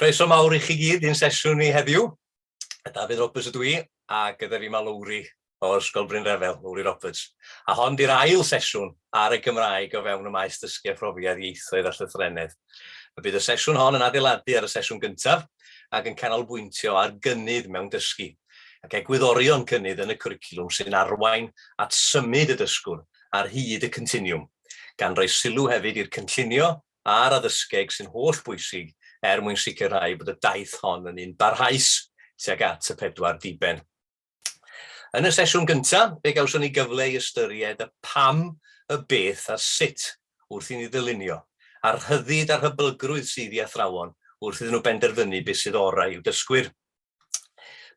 Croeso mawr i chi gyd i'n sesiwn ni heddiw. Dafydd Roberts ydw i, a gyda fi mae Lowri o Ysgol Bryn Refel, Lowri Roberts. A hon di'r ail sesiwn ar y Gymraeg o fewn y maes dysgu a phrofiad ieithoedd a llythrennedd. Y bydd y sesiwn hon yn adeiladu ar y sesiwn gyntaf ac yn canolbwyntio ar gynnydd mewn dysgu ac egwyddorion cynnydd yn y cwricwlwm sy'n arwain at symud y dysgwr ar hyd y continiwm, gan roi sylw hefyd i'r cynllunio a'r addysgeg sy'n holl bwysig er mwyn sicrhau bod y daith hon yn un barhaus tuag at y pedwar diben. Yn y sesiwn gyntaf, fe gawson ni gyfle i ystyried y pam, y beth a'r sut wrth i ni ddylunio, a'r rhyddid a'r hyblygrwydd sydd i athrawon wrth iddyn nhw benderfynu beth sydd orau i'w dysgwyr.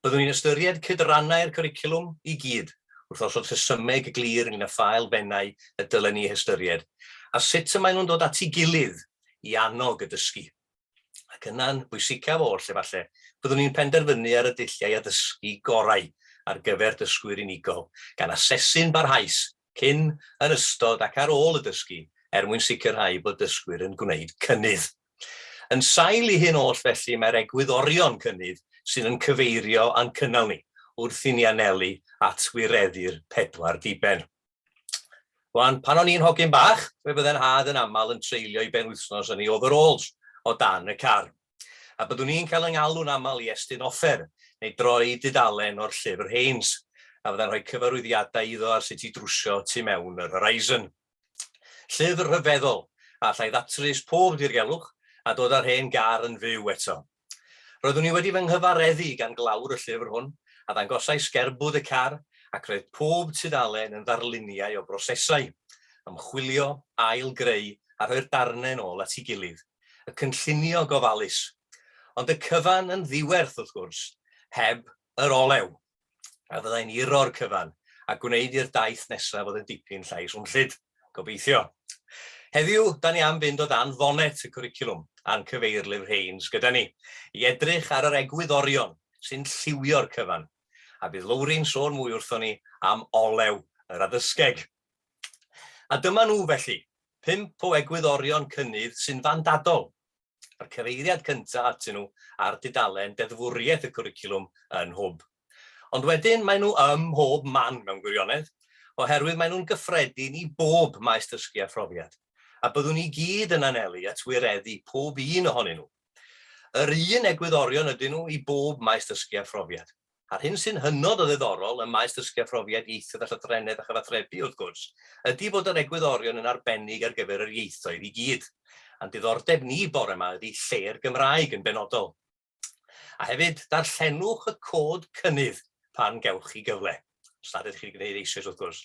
Byddwn ni'n ystyried cydrannau'r cwricwlwm i gyd, wrth osod rhesymeg glir ynglŷn â pha elfennau y dylen ni eu hystyried, a sut y maen nhw'n dod at ei gilydd i annog y dysgu. Ac yna'n bwysicaf oll, efallai, byddwn ni'n penderfynu ar y dulliau addysgu gorau ar gyfer dysgwyr unigol, gan asesu'n barhaus cyn, yn ystod ac ar ôl y dysgu er mwyn sicrhau bod dysgwyr yn gwneud cynnydd. Yn sail i hyn oll felly mae'r egwyddorion cynnydd sy'n yn cyfeirio a'n cynnal ni wrth i ni anelu at wireddu'r pedwar diben. Wan, pan o'n i'n hogyn bach, fe fydde'n had yn aml yn treulio i ben wythnos yn ei overalls o dan y car, a byddwn i'n cael yng ngalw'n aml i estyn offer neu droi dudalen o'r llyfr Haynes, a fyddai'n rhoi cyfarwyddiadau iddo ar sut i drwsio tu mewn yr Horizon. Llyfr rhyfeddol, a allai ddatrys pob dirgelwch a dod â'r hen gar yn fyw eto. Roeddwn i wedi fy nghyfareddu gan glawr y llyfr hwn a ddangosai sgerbwd y car ac roedd pob tudalen yn ddarluniau o brosesau, ymchwilio, ail-greu a rhoi'r darnau yn ôl at ei gilydd, y cynllunio gofalus. Ond y cyfan yn ddiwerth, wrth gwrs, heb yr olew! a fyddai'n uro'r cyfan a gwneud i'r daith nesaf fod yn dipyn llai swnllyd, gobeithio. Heddiw, da ni am fynd o dan fonet y cwricwlwm a'n cyfeirlyfr Haines gyda ni, i edrych ar yr egwyddorion sy'n lliwio'r cyfan, a bydd Lowri'n sôn mwy wrthon ni am olew yr addysgeg. A dyma nhw felly, pump o egwyddorion cynnydd sy'n fandadol a'r cyfeiriad cyntaf atyn nhw ar dudalen deddfwriaeth y cwricwlwm yn Hwb. Ond wedyn maen nhw ym mhob man mewn gwirionedd, oherwydd maen nhw'n gyffredin i bob maes dysgu a phrofiad, a byddwn i gyd yn anelu at wireddu pob un ohonyn nhw. Yr un egwyddorion ydyn nhw i bob maes dysgu a phrofiad. a'r hyn sy'n hynod o ddiddorol ym maes dysgu a phrofiad ieithoedd a llythrennedd a chyfathrebu, wrth gwrs, ydi fod yr egwyddorion yn arbennig ar gyfer yr ieithoedd i gyd. A'n diddordeb ni bore 'ma ydi lle'r Gymraeg yn benodol. A hefyd, darllenwch y cod cynnydd pan gewch chi gyfle, os nad ydych chi'n gwneud eisoes wrth gwrs,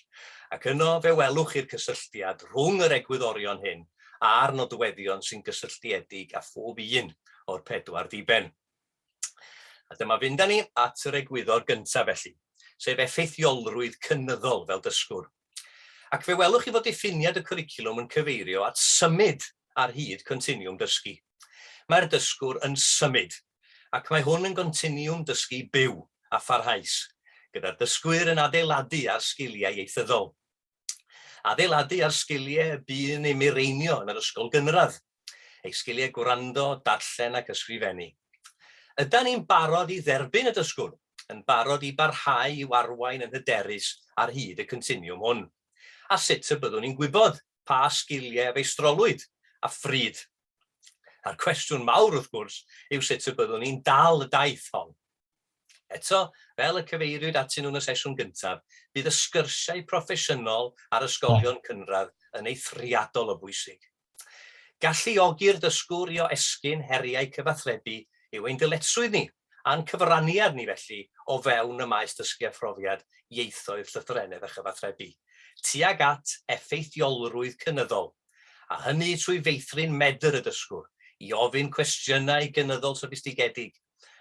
ac yno fe welwch chi'r cysylltiad rhwng yr egwyddorion hyn a'r nodweddion sy'n gysylltiedig â phob un o'r pedwar diben. A dyma fynd â ni at yr egwyddor gyntaf felly, sef effeithiolrwydd cynyddol fel dysgwr. Ac fe welwch chi fod diffiniad y cwricwlwm yn cyfeirio at symud ar hyd continiwm dysgu. Mae'r dysgwr yn symud, ac mae hwn yn gontinwwm dysgu byw a pharhaus, gyda'r dysgwyr yn adeiladu ar sgiliau ieithyddol. Adeiladu ar sgiliau y bu'n ei mireinio yn yr ysgol gynradd, ei sgiliau gwrando, darllen ac ysgrifennu. Ydan ni'n barod i dderbyn y dysgwr, yn barod i barhau i'w arwain yn hyderus ar hyd y continiwm hwn? A sut y byddwn ni'n gwybod pa sgiliau a feistrolwyd, a phryd? A'r cwestiwn mawr, wrth gwrs, yw sut y byddwn ni'n dal y daith hon? Eto, fel y cyfeiriwyd atyn nhw yn y sesiwn gyntaf, bydd y sgyrsiau proffesiynol â'r ysgolion cynradd yn eithriadol o bwysig. Galluogi'r dysgwr i oesgyn heriau cyfathrebu yw ein dyletswydd ni, a'n cyfraniad ni felly, o fewn y maes dysgu a phrofiad ieithoedd llythrennedd a chyfathrebu, tuag at effeithiolrwydd cynyddol, a hynny trwy feithrin medr y dysgwr i ofyn cwestiynau gynyddol soffistigedig,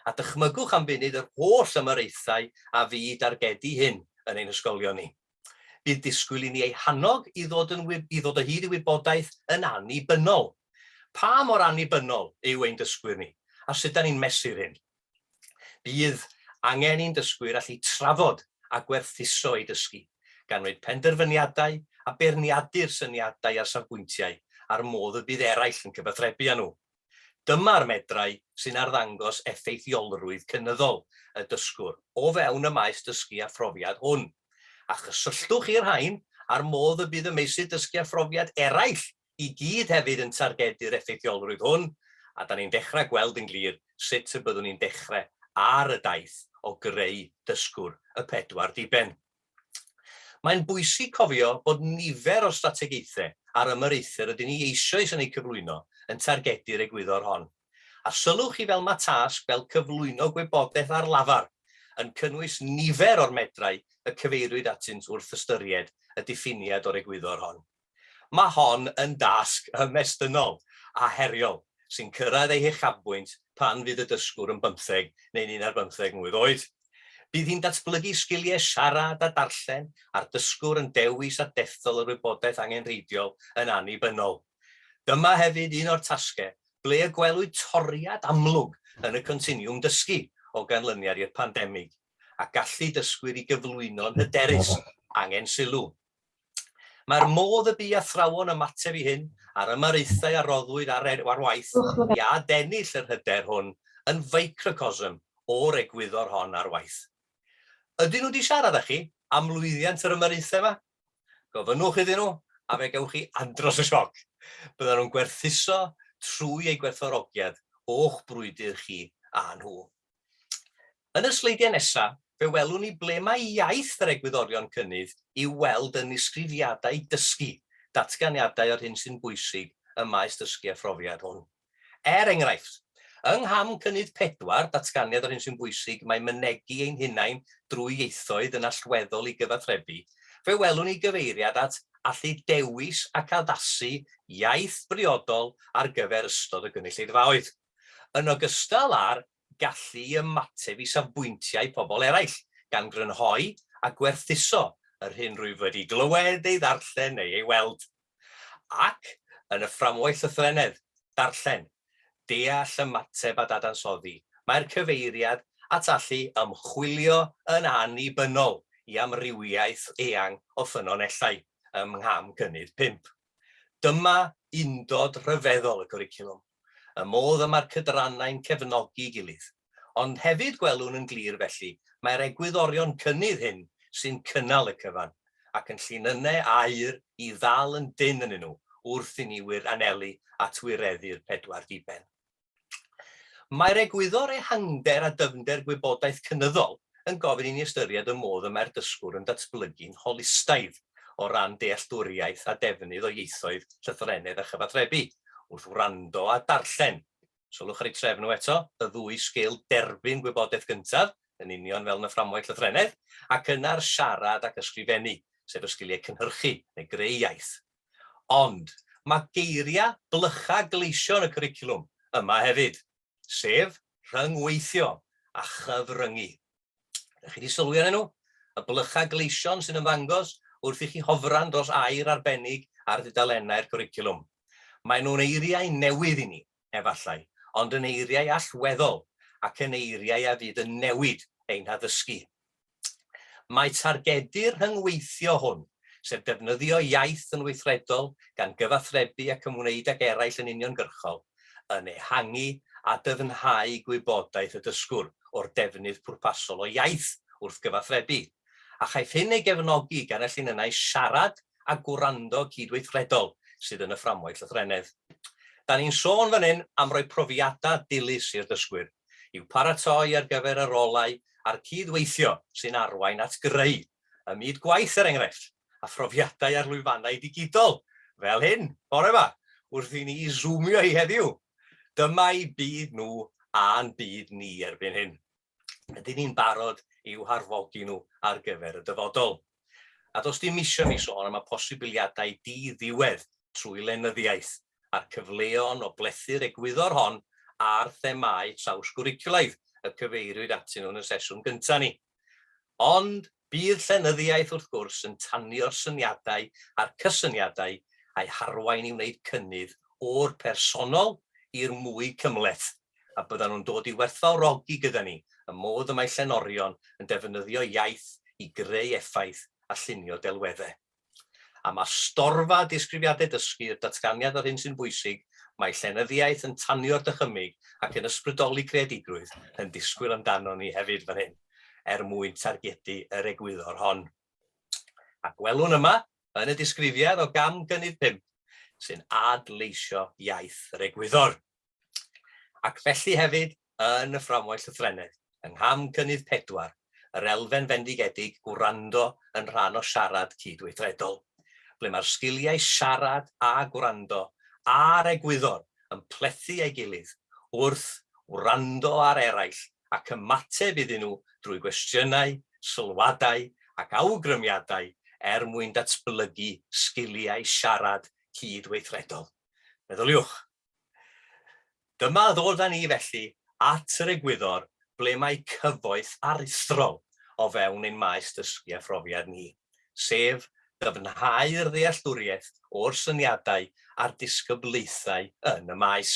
a dychmygwch am funud yr holl ymyraethau a fu i dargedu hyn yn ein hysgolion ni. Bydd disgwyl i ni eu hannog i ddod, yn, i ddod o hyd i wybodaeth yn annibynnol. Pa mor annibynnol yw ein dysgwyr ni, a sut da ni'n mesur hyn? Bydd angen i'n dysgwyr allu trafod a gwerthuso eu dysgu, gan wneud penderfyniadau a beirniadu'r syniadau a'r safbwyntiau a'r modd y bydd eraill yn cyfathrebu â nhw. Dyma'r medrau sy'n arddangos effeithiolrwydd cynyddol y dysgwr o fewn y maes dysgu a phrofiad hwn, a chysylltwch i'r rhain â'r modd y bydd y meysydd dysgu a phrofiad eraill i gyd hefyd yn targedu'r effeithiolrwydd hwn, a da ni'n dechrau gweld yn glir sut y byddwn ni'n dechrau ar y daith o greu dysgwr y pedwar diben. Mae'n bwysig cofio bod nifer o'r strategaethau a'r ymyraethau rydyn ni eisoes yn eu cyflwyno yn targedu'r egwyddor hon. A sylwch chi fel mae tasg fel cyflwyno gwybodaeth ar lafar yn cynnwys nifer o'r medrau y cyfeiriwyd atynt wrth ystyried y diffiniad o'r egwyddor hon. Mae hon yn dasg ymestynnol a heriol sy'n cyrraedd ei huchafbwynt pan fydd y dysgwr yn bymtheg neu'n un ar bymtheg mlwydd oed. Bydd hi'n datblygu sgiliau siarad a darllen a'r dysgwr yn dewis a dethol yr wybodaeth angenrheidiol yn annibynnol. Dyma hefyd un o'r tasgau ble y gwelwyd toriad amlwg yn y continiwm dysgu o ganlyniad i'r pandemig, a gallu dysgwyr i gyflwyno'n hyderus angen sylw. Mae'r modd y bu athrawon ymateb i hyn, a'r ymyraethau a roddwyd ar waith i adennill yr hyder hwn, yn ficrocosm o'r egwyddor hon ar waith. Ydyn nhw 'di siarad â chi am lwyddiant yr ymyraethau yma? Gofynnwch iddyn nhw, a fe gewch chi andros o sioc. Byddan nhw'n gwerthuso trwy eu gwerthfawrogiad o'ch brwydr chi a nhw. Yn y sleidiau nesaf, fe welwn ni ble mae iaith yr egwyddorion cynnydd i'w weld yn nisgrifiadau dysgu, datganiadau o'r hyn sy'n bwysig ym maes dysgu a phrofiad hwn. Er enghraifft, yng ngham cynnydd pedwar, datganiad o'r hyn sy'n bwysig, mae mynegi ein hunain drwy ieithoedd yn allweddol i gyfathrebu, fe welwn ni gyfeiriad at allu dewis ac addasu iaith briodol ar gyfer ystod y gynulleidfaoedd. yn ogystal â'r gallu i ymateb i safbwyntiau pobl eraill, gan grynhoi a gwerthuso yr hyn rwyf wedi glywed, ei ddarllen neu ei weld. Ac, yn y fframwaith llythrennedd, darllen, deall, ymateb a dadansoddi, mae'r cyfeiriad at allu ymchwilio yn annibynnol i amrywiaeth eang o ffynonellau ym Ngham Cynnydd Pump. Dyma undod rhyfeddol y cwricwlwm. y modd y mae'r cydrannau'n cefnogi'i gilydd. Ond hefyd gwelwn yn glir felly mai'r egwyddorion cynnydd hyn sy'n cynnal y cyfan, ac yn llinynnau aur i ddal yn dynn ynnyn nhw wrth i ni wir anelu at wireddu'r pedwar diben. Mae'r egwyddor ehangder a dyfnder gwybodaeth cynyddol yn gofyn i ni ystyried y modd y mae'r dysgwr yn datblygu'n holistaidd o ran dealltwriaeth a defnydd o ieithoedd, llythrennedd a chyfathrebu, wrth wrando a darllen. Sylwch ar eu trefn nhw eto, y ddwy sgil derbyn gwybodaeth gyntaf, yn union fel yn y fframwaith llythrennedd, ac yna'r siarad ac ysgrifennu, sef y sgiliau cynhyrchu neu greu iaith. Ond, mae geiriau blycha gleision y cwricwlwm yma hefyd. sef rhyngweithio a chyfryngu. Ydych chi wedi sylwi arnyn nhw? Y blychau gleision sy'n ymddangos wrth i chi hofran dros air arbennig ar ddudalennau'r cwricwlwm. Maen nhw'n eiriau newydd i ni, efallai, ond yn eiriau allweddol ac yn eiriau a fydd yn newid ein haddysgu. Mae targedu'r rhyngweithio hwn, sef defnyddio iaith yn weithredol gan gyfathrebu ac ymwneud ag eraill yn uniongyrchol, yn ehangu a dyfnhau gwybodaeth y dysgwr o'r defnydd pwrpasol o iaith wrth gyfathrebu, a chaiff hyn ei gefnogi gan y llinynnau siarad a gwrando cydweithredol sydd yn y fframwaith lythrennedd. Da ni'n sôn fan hyn am roi profiadau dilys i'r dysgwyr. i'w paratoi ar gyfer y rolau a'r cyd-weithio sy'n arwain at greu, ym myd gwaith er enghraifft, a phrofiadau ar lwyfannau digidol, fel hyn, bore 'ma, wrth i ni Zoomio hi heddiw. Dyma'u byd nhw a'n byd ni erbyn hyn. Ydyn ni'n barod i'w harfogi nhw ar gyfer y dyfodol? A does dim isio i mi sôn am y posibiliadau di-ddiwedd trwy lenyddiaeth, a'r cyfleon o blethu'r egwyddor hon a'r themâu trawsgwricwlaidd y cyfeiriwyd atyn nhw yn y sesiwn gyntaf ni. Ond bydd llenyddiaeth, wrth gwrs, yn tanio'r syniadau a'r cysyniadau a'i harwain i wneud cynnydd o'r personol i'r mwy cymhleth, a byddan nhw'n dod i werthfawrogi gyda ni y modd y mae llenorion yn defnyddio iaith i greu effaith a llunio delweddau. A ma storfa disgrifiadau dysgu i'r datganiad o'r hyn sy'n bwysig, mae llenyddiaeth yn tanio'r dychymyg ac yn ysbrydoli creadigrwydd, yn disgwyl amdanon ni hefyd fan hyn, er mwyn targedu yr egwyddor hon. A gwelwn yma, yn y disgrifiad o gam gynnydd pump, sy'n ad-leisio iaith yr egwyddor. ac felly hefyd yn y fframwaith llythrennedd, yng ngham cynnydd pedwar, yr elfen fendigedig 'gwrando' yn rhan o siarad cydweithredol, ble mae'r sgiliau siarad a gwrando a'r egwyddor yn plethu ei gilydd wrth wrando ar eraill ac ymateb iddyn nhw drwy gwestiynau, sylwadau ac awgrymiadau er mwyn datblygu sgiliau siarad cydweithredol. Meddyliwch! Dyma ddod â ni felly at yr egwyddor ble mae cyfoeth aruthrol o fewn ein maes dysgu a phrofiad ni, sef dyfnhau'r ddealltwriaeth o'r syniadau a'r disgyblaethau yn y maes.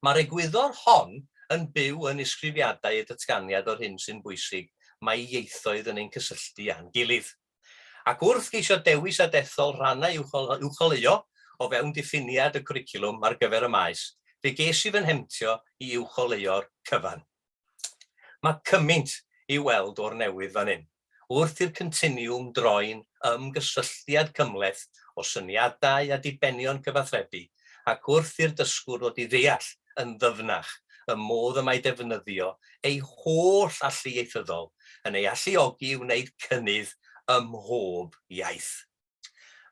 Mae'r egwyddor hon yn byw yn isgrifiadau y datganiad o'r hyn sy'n bwysig mae ieithoedd yn ein cysylltu â'n gilydd. Ac wrth geisio dewis a dethol rhannau i'w uwcholeuo o fewn diffiniad y cwricwlwm ar gyfer y maes, fe ges i fy nhemtio i uwcholeuo'r cyfan. Mae cymaint i'w weld o'r newydd fan hyn, wrth i'r Continiwm droi'n ymgysylltiad cymhleth o syniadau a dibenion cyfathrebu ac wrth i'r dysgwr ddod i ddeall yn ddyfnach y modd y mae defnyddio ei holl allu ieithyddol yn ei alluogi i wneud cynnydd ym mhob iaith.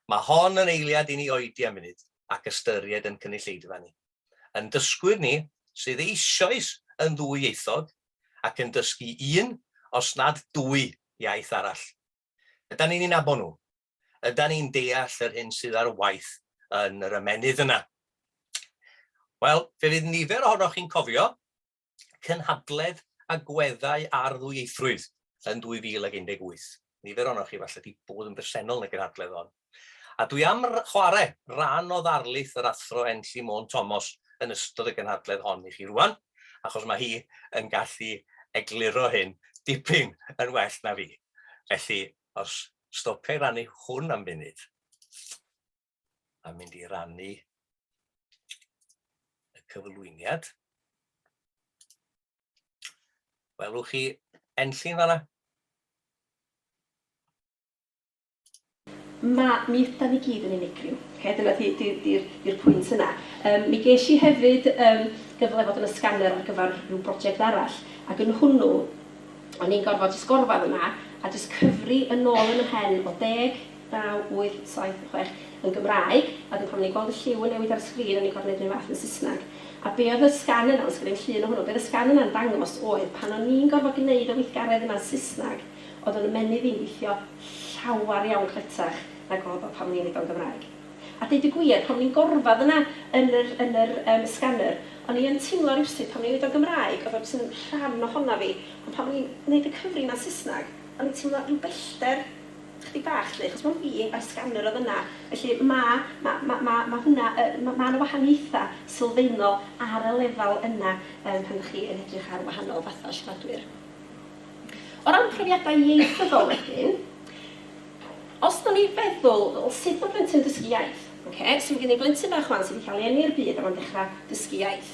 Mae hon yn eiliad i ni oedi am funud ac ystyried ein cynulleidfa ni, ein dysgwyr ni sydd eisoes yn ddwyieithog ac yn dysgu un, os nad dwy, iaith arall. Ydan ni'n eu nabod nhw? Ydan ni'n deall yr hyn sydd ar waith yn yr ymennydd yna? Wel, fe fydd nifer ohonoch chi'n cofio cynhadledd agweddau ar ddwyieithrwydd yn 2018. Nifer ohonoch chi falle wedi bod yn bresennol yn y gynhadledd hon. A dwi am chwarae rhan o ddarlith yr athro Enlli Môn Thomas yn ystod y gynhadledd hon i chi rwan, achos mae hi yn gallu egluro hyn dipyn yn well na fi. Felly, Os stopia i rannu hwn am funud, a mynd i rannu y cyflwyniad, welwch chi enllyn fanna. Mae, mi ydan ni gyd yn unigryw. Okay? Dyna di, di, di, di'r pwynt yna. Um, mi ges i hefyd um, gyfle fod yn y scanner ar gyfer rhyw brosiect arall, ac yn hwnnw, O'n i'n gorfod jyst gorfadd yna a jyst cyfri yn ôl yn 'y mhen o deg, naw, wyth, saith, chwech yn Gymraeg a wedyn pan o'n i'n gweld y lliw yn newid ar y sgrin o'n i'n gorfod neud 'r un fath yn Saesneg. A be' oedd y sgan yna, os gen i'm llun o hwnnw, be' oedd y sgan yna'n dangos oedd pan o'n i'n gorfod gneud y weithgaredd yna yn Saesneg oedd o'n ymennydd i'n gweithio llawer iawn cletach nag oedd o pan o'n i'n neud o'n Gymraeg. A deud y gwir, pan o'n i'n gorfadd yna yn yr yn yr yym scanner, o'n i yn timlo rywsut pan o'n i'n neud o'n Gymraeg, oedd o jyst yn rhan ohona fi, ond pan o'n i'n neud y cyfri yna'n Saesneg, o'n i'n timlo ryw bellder chydig bach 'lly, achos mond fi a'r scanner oedd yna, felly ma' ma' ma' ma' ma' hwnna yy ma' ma' 'na wahaniaetha' sylfaenol ar y lefel yna yym pan 'dach chi yn edrych ar wahanol fatha' o siaradwyr. O ran profiadau ieithyddol wedyn, Os da ni'n feddwl, wel sut ma plentyn dysgu iaith? Ok, so ma gen i blentyn bach wan sy di cael ei eni i'r byd a ma'n dechra dysgu iaith.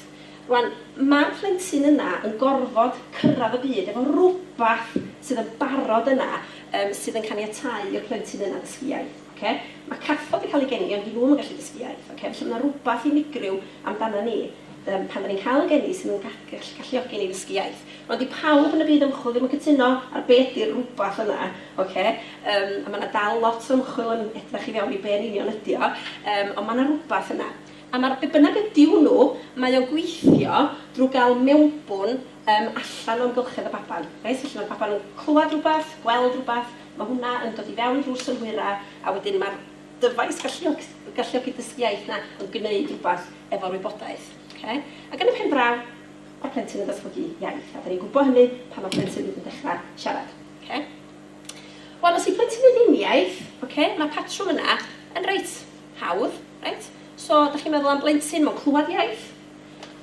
Rwan, ma'r plentyn yna yn gorfod cyrradd y byd efo rwbath sydd yn barod yna yym sydd yn caniatáu i'r plentyn yna ddysgu iaith. Ok? Ma cathod yn cael ei geni ond di nhw ddim yn gallu dysgu iaith. Ok? Felly ma na rwbath unigryw amdana ni. Yym, pan 'dan ni'n cael y geni sydd yn gall- galluogi ni i ddysgu iaith. Rwan, 'di pawb yn y byd ymchwil ddim yn cytuno ar be' ydi'r rwbath yna, ocê? Yym, a ma' 'na dal lot o ymchwil yn edrach i fewn i be' yn union ydi o, yym, ond ma' 'na rwbath yna. A ma'r be' bynnag ydi hwnnw, mae o'n gweithio drw ga'l mewnbwn yym allan o amgylchedd y baban, reit? Felly, ma'r baban yn clwad rwbath, gweld rwbath, ma' hwnna yn dod i fewn drw'r synhwyra, a wedyn ma'r Dyfais galluog- galluogi dysgu iaith na ond gwneud rhywbeth efo'r wybodaeth. Oce? Ac yn y pen draw, mae'r plentyn yn datblygu iaith, a dan ni'n gwybod hynny pan mae'r plentyn hyd yn dechrau siarad. Oce? Wel, os yw plentyn yn ddim iaith, oce, mae'r patrwm yna yn reit hawdd, reit? So, da chi'n meddwl am blentyn, mae'n clywed iaith,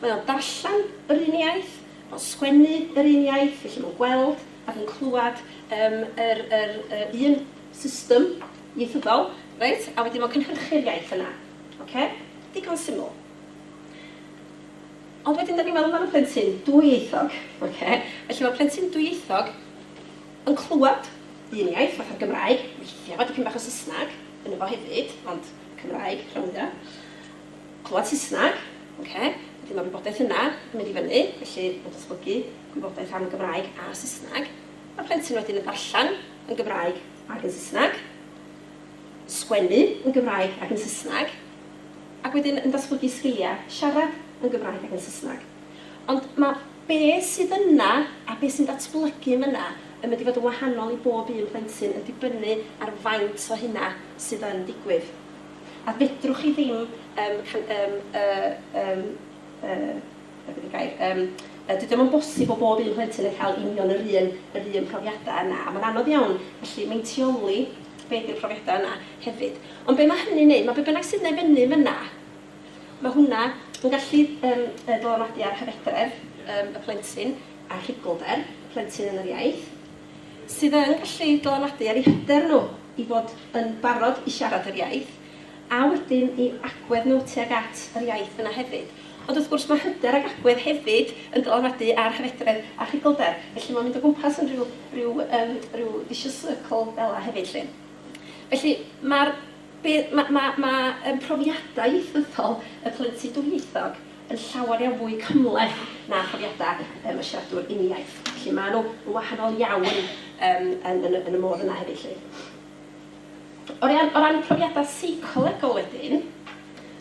mae o'n darllen yr un iaith, mae'n sgwennu yr un iaith, felly mae'n gweld ac yn clywed um, yr, yr, yr un system Ieithyddol, reit, a wedyn o gynhyrchu'r iaith yna. Ocê? Digon syml. Ond wedyn 'dan ni'n meddwl am y plentyn dwyieithog, ocê? Felly mae plentyn dwyieithog yn clywed un iaith, fatha'r Gymraeg, weithiau fo dipyn bach o Saesneg ynddo fo hefyd, ond Cymraeg rhan fwya'. Clywed Saesneg, ocê, wedyn mae'r wybodaeth yna yn mynd i fyny, felly mae'n datblygu gwybodaeth am y Gymraeg a Saesneg. Mae'r plentyn wedyn yn darllen yn Gymraeg ac yn Saesneg, sgwennu yn Gymraeg ac yn Saesneg, ac wedyn yn datblygu sgiliau siarad yn Gymraeg ac yn Saesneg. Ond mae be sydd yna a be sy'n datblygu yn fan'na yn mynd i fod yn wahanol i bob un plentyn yn dibynnu ar faint o hynna sydd yn digwydd. A fedrwch chi ddim yym yym yy yym yy Be ydy'r gair? Yym, yy, dydy o'm yn bosib bo' bob un plentyn yn cael union yr un, yr un profiadau yna, a mae'n anodd iawn gallu meintioli be ydy'r profiadau yna hefyd. Ond be mae hynny'n neud, mae be bynnag sydd yna i fyny yn fyna, mae hwnna yn gallu yym yy dylanwadu ar hyfedredd yym y plentyn a rhugylder y plentyn yn yr iaith, sydd yn gallu dylanwadu ar eu hyder nhw i fod yn barod i siarad yr iaith. a wedyn i agwedd nhw tuag at yr iaith yna hefyd. Ond wrth gwrs, mae hyder ac agwedd hefyd yn dylanwadu ar hyfedredd a chigolder, felly mae'n mynd o gwmpas yn rhyw, rhyw, yym, rhyw vicious circle fel 'na hefyd 'lly. Felly, mae'r, be, ma', ma', ma' yym profiadau ieithyddol y plentyn dwyieithog yn llawer iawn fwy cymhleth na phrofiadau yym y siaradwr uniaith. Felly, maen nhw yn wahanol iawn yym yn, yn y, yn y modd yna hefyd 'lly. O ran, o ran profiadau seicolegol wedyn,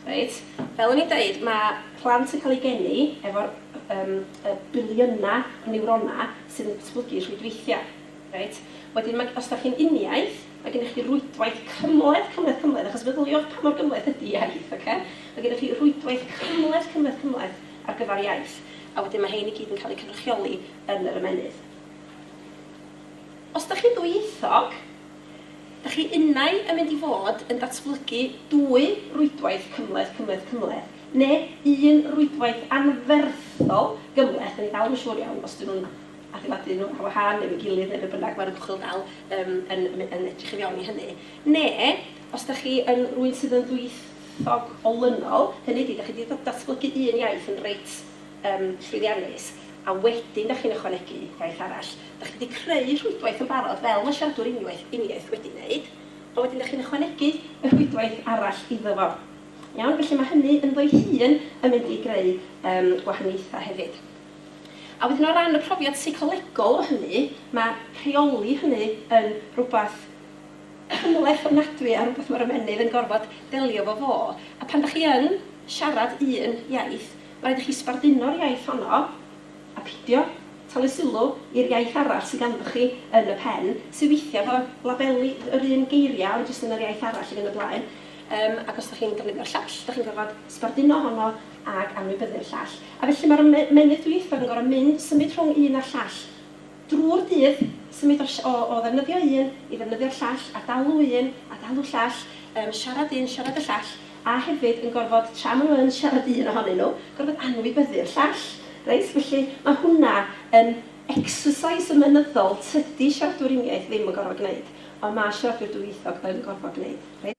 reit, fel o'n i'n deud, mae plant yn cael eu geni efo'r um, y biliynau o niwronau sydd yn datblygu rhwydweithiau. Reit? Wedyn, mae, os da chi'n uniaith, mae gennych chi rwydwaith cymleth, cymleth, cymleth, achos feddyliwch pa mor gymleth ydy iaith, okay? mae gennych chi rwydwaith cymleth, cymleth, cymleth ar gyfer iaith, a wedyn mae hein i gyd yn cael eu cynrychioli yn yr ymennydd. Os da chi'n ddwyieithog, Da chi unai yn mynd i fod yn datblygu dwy rwydwaith cymhleth, cymhleth, cymhleth, neu un rwydwaith anferthol gymhleth, da ni dal ddim yn siŵr iawn os ydyn nhw'n adeiladu nhw ar wahân neu efo'i gilydd neu be bynnag, mae'r ymchwil dal yym yn yn edrych i fewn i hynny, neu os da chi yn rywun sydd yn ddwyieithog olynol, hynny ydi, da chi 'di datblygu un iaith yn reit yn llwyddiannus, a wedyn dach chi'n ychwanegu gwaith arall. Dach chi wedi creu rhwydwaith yn barod, fel mae siaradwr uniwaith, uniaith wedi gwneud, ond wedyn dach chi'n ychwanegu y rhwydwaith arall iddo fo. Iawn? Felly mae hynny ynddo'i hun yn mynd i greu yym gwahaniaethau hefyd. A wedyn o ran y profiad seicolegol o hynny, mae rheoli hynny yn rhywbeth cymhleth ofnadwy a rhywbeth mae'r ymennydd yn gorfod delio efo fo. A pan dach chi yn siarad un iaith, Rhaid i chi sbarduno'r iaith honno a peidio talu sylw i'r iaith arall sydd ganddoch chi yn y pen, sydd weithiau efo labeli yr un geiriau ond jyst yn yr iaith arall i fynd y blaen. Yym ac os dach chi'n defnyddio'r llall, dach chi'n gorfod sbarduno honno ac anwybyddu'r llall. A felly mae'r ymennydd dwyieithog yn gorfod mynd, symud rhwng un a'r llall. Drwy'r dydd, symud o o o ddefnyddio un i ddefnyddio'r llall, a dalu un, a dalu llall, yym siarad un, siarad y llall, a hefyd yn gorfod, tra maen nhw yn siarad un ohonyn nhw, gorfod anwybyddu'r llall. Reit? Felly, mae hwnna yn exercise ymenyddol tydi siaradwyr uniaith ddim yn gorfod gwneud, ond mae siaradwyr dwyieithog yn gorfod gwneud. Reit?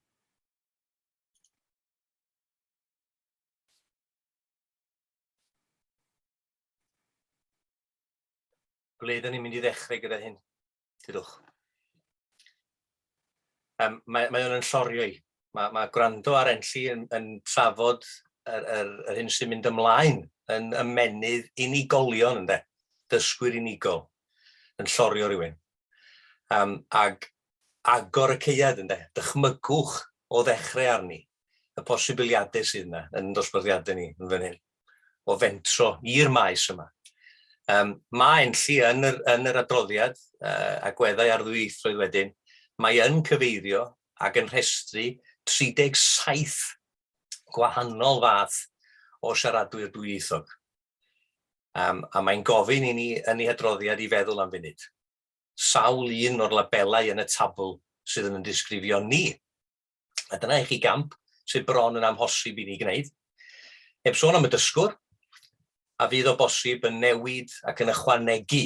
ble ydyn ni'n mynd i ddechrau gyda hyn? Dydwch. Um, mae, mae o'n llorio i. Mae, mae gwrando ar Enlli yn, yn trafod yr, yr, yr hyn sy'n mynd ymlaen yn ymenydd unigolion ynde, dysgwyr unigol yn llorio rhywun. Um, ag agor y ceiad ynde, dychmygwch o ddechrau arni, y posibiliadau sydd yna yn dosbarthiadau ni yn fan hyn, o fentro i'r maes yma. Um, mae enlli yn yr, yn yr adroddiad uh, agweddau ar ddwyieithrwydd wedyn, mae yn cyfeirio ac yn rhestru 37 gwahanol fath o siaradwyr dwyieithog. Um, a mae'n gofyn i ni yn ei hadroddiad i feddwl am funud. Sawl un o'r labelau yn y tabl sydd yn yn disgrifio ni A dyna i chi gamp sydd bron yn amhosib i ni gwneud. Heb sôn am y dysgwr, a fydd o bosib yn newid ac yn ychwanegu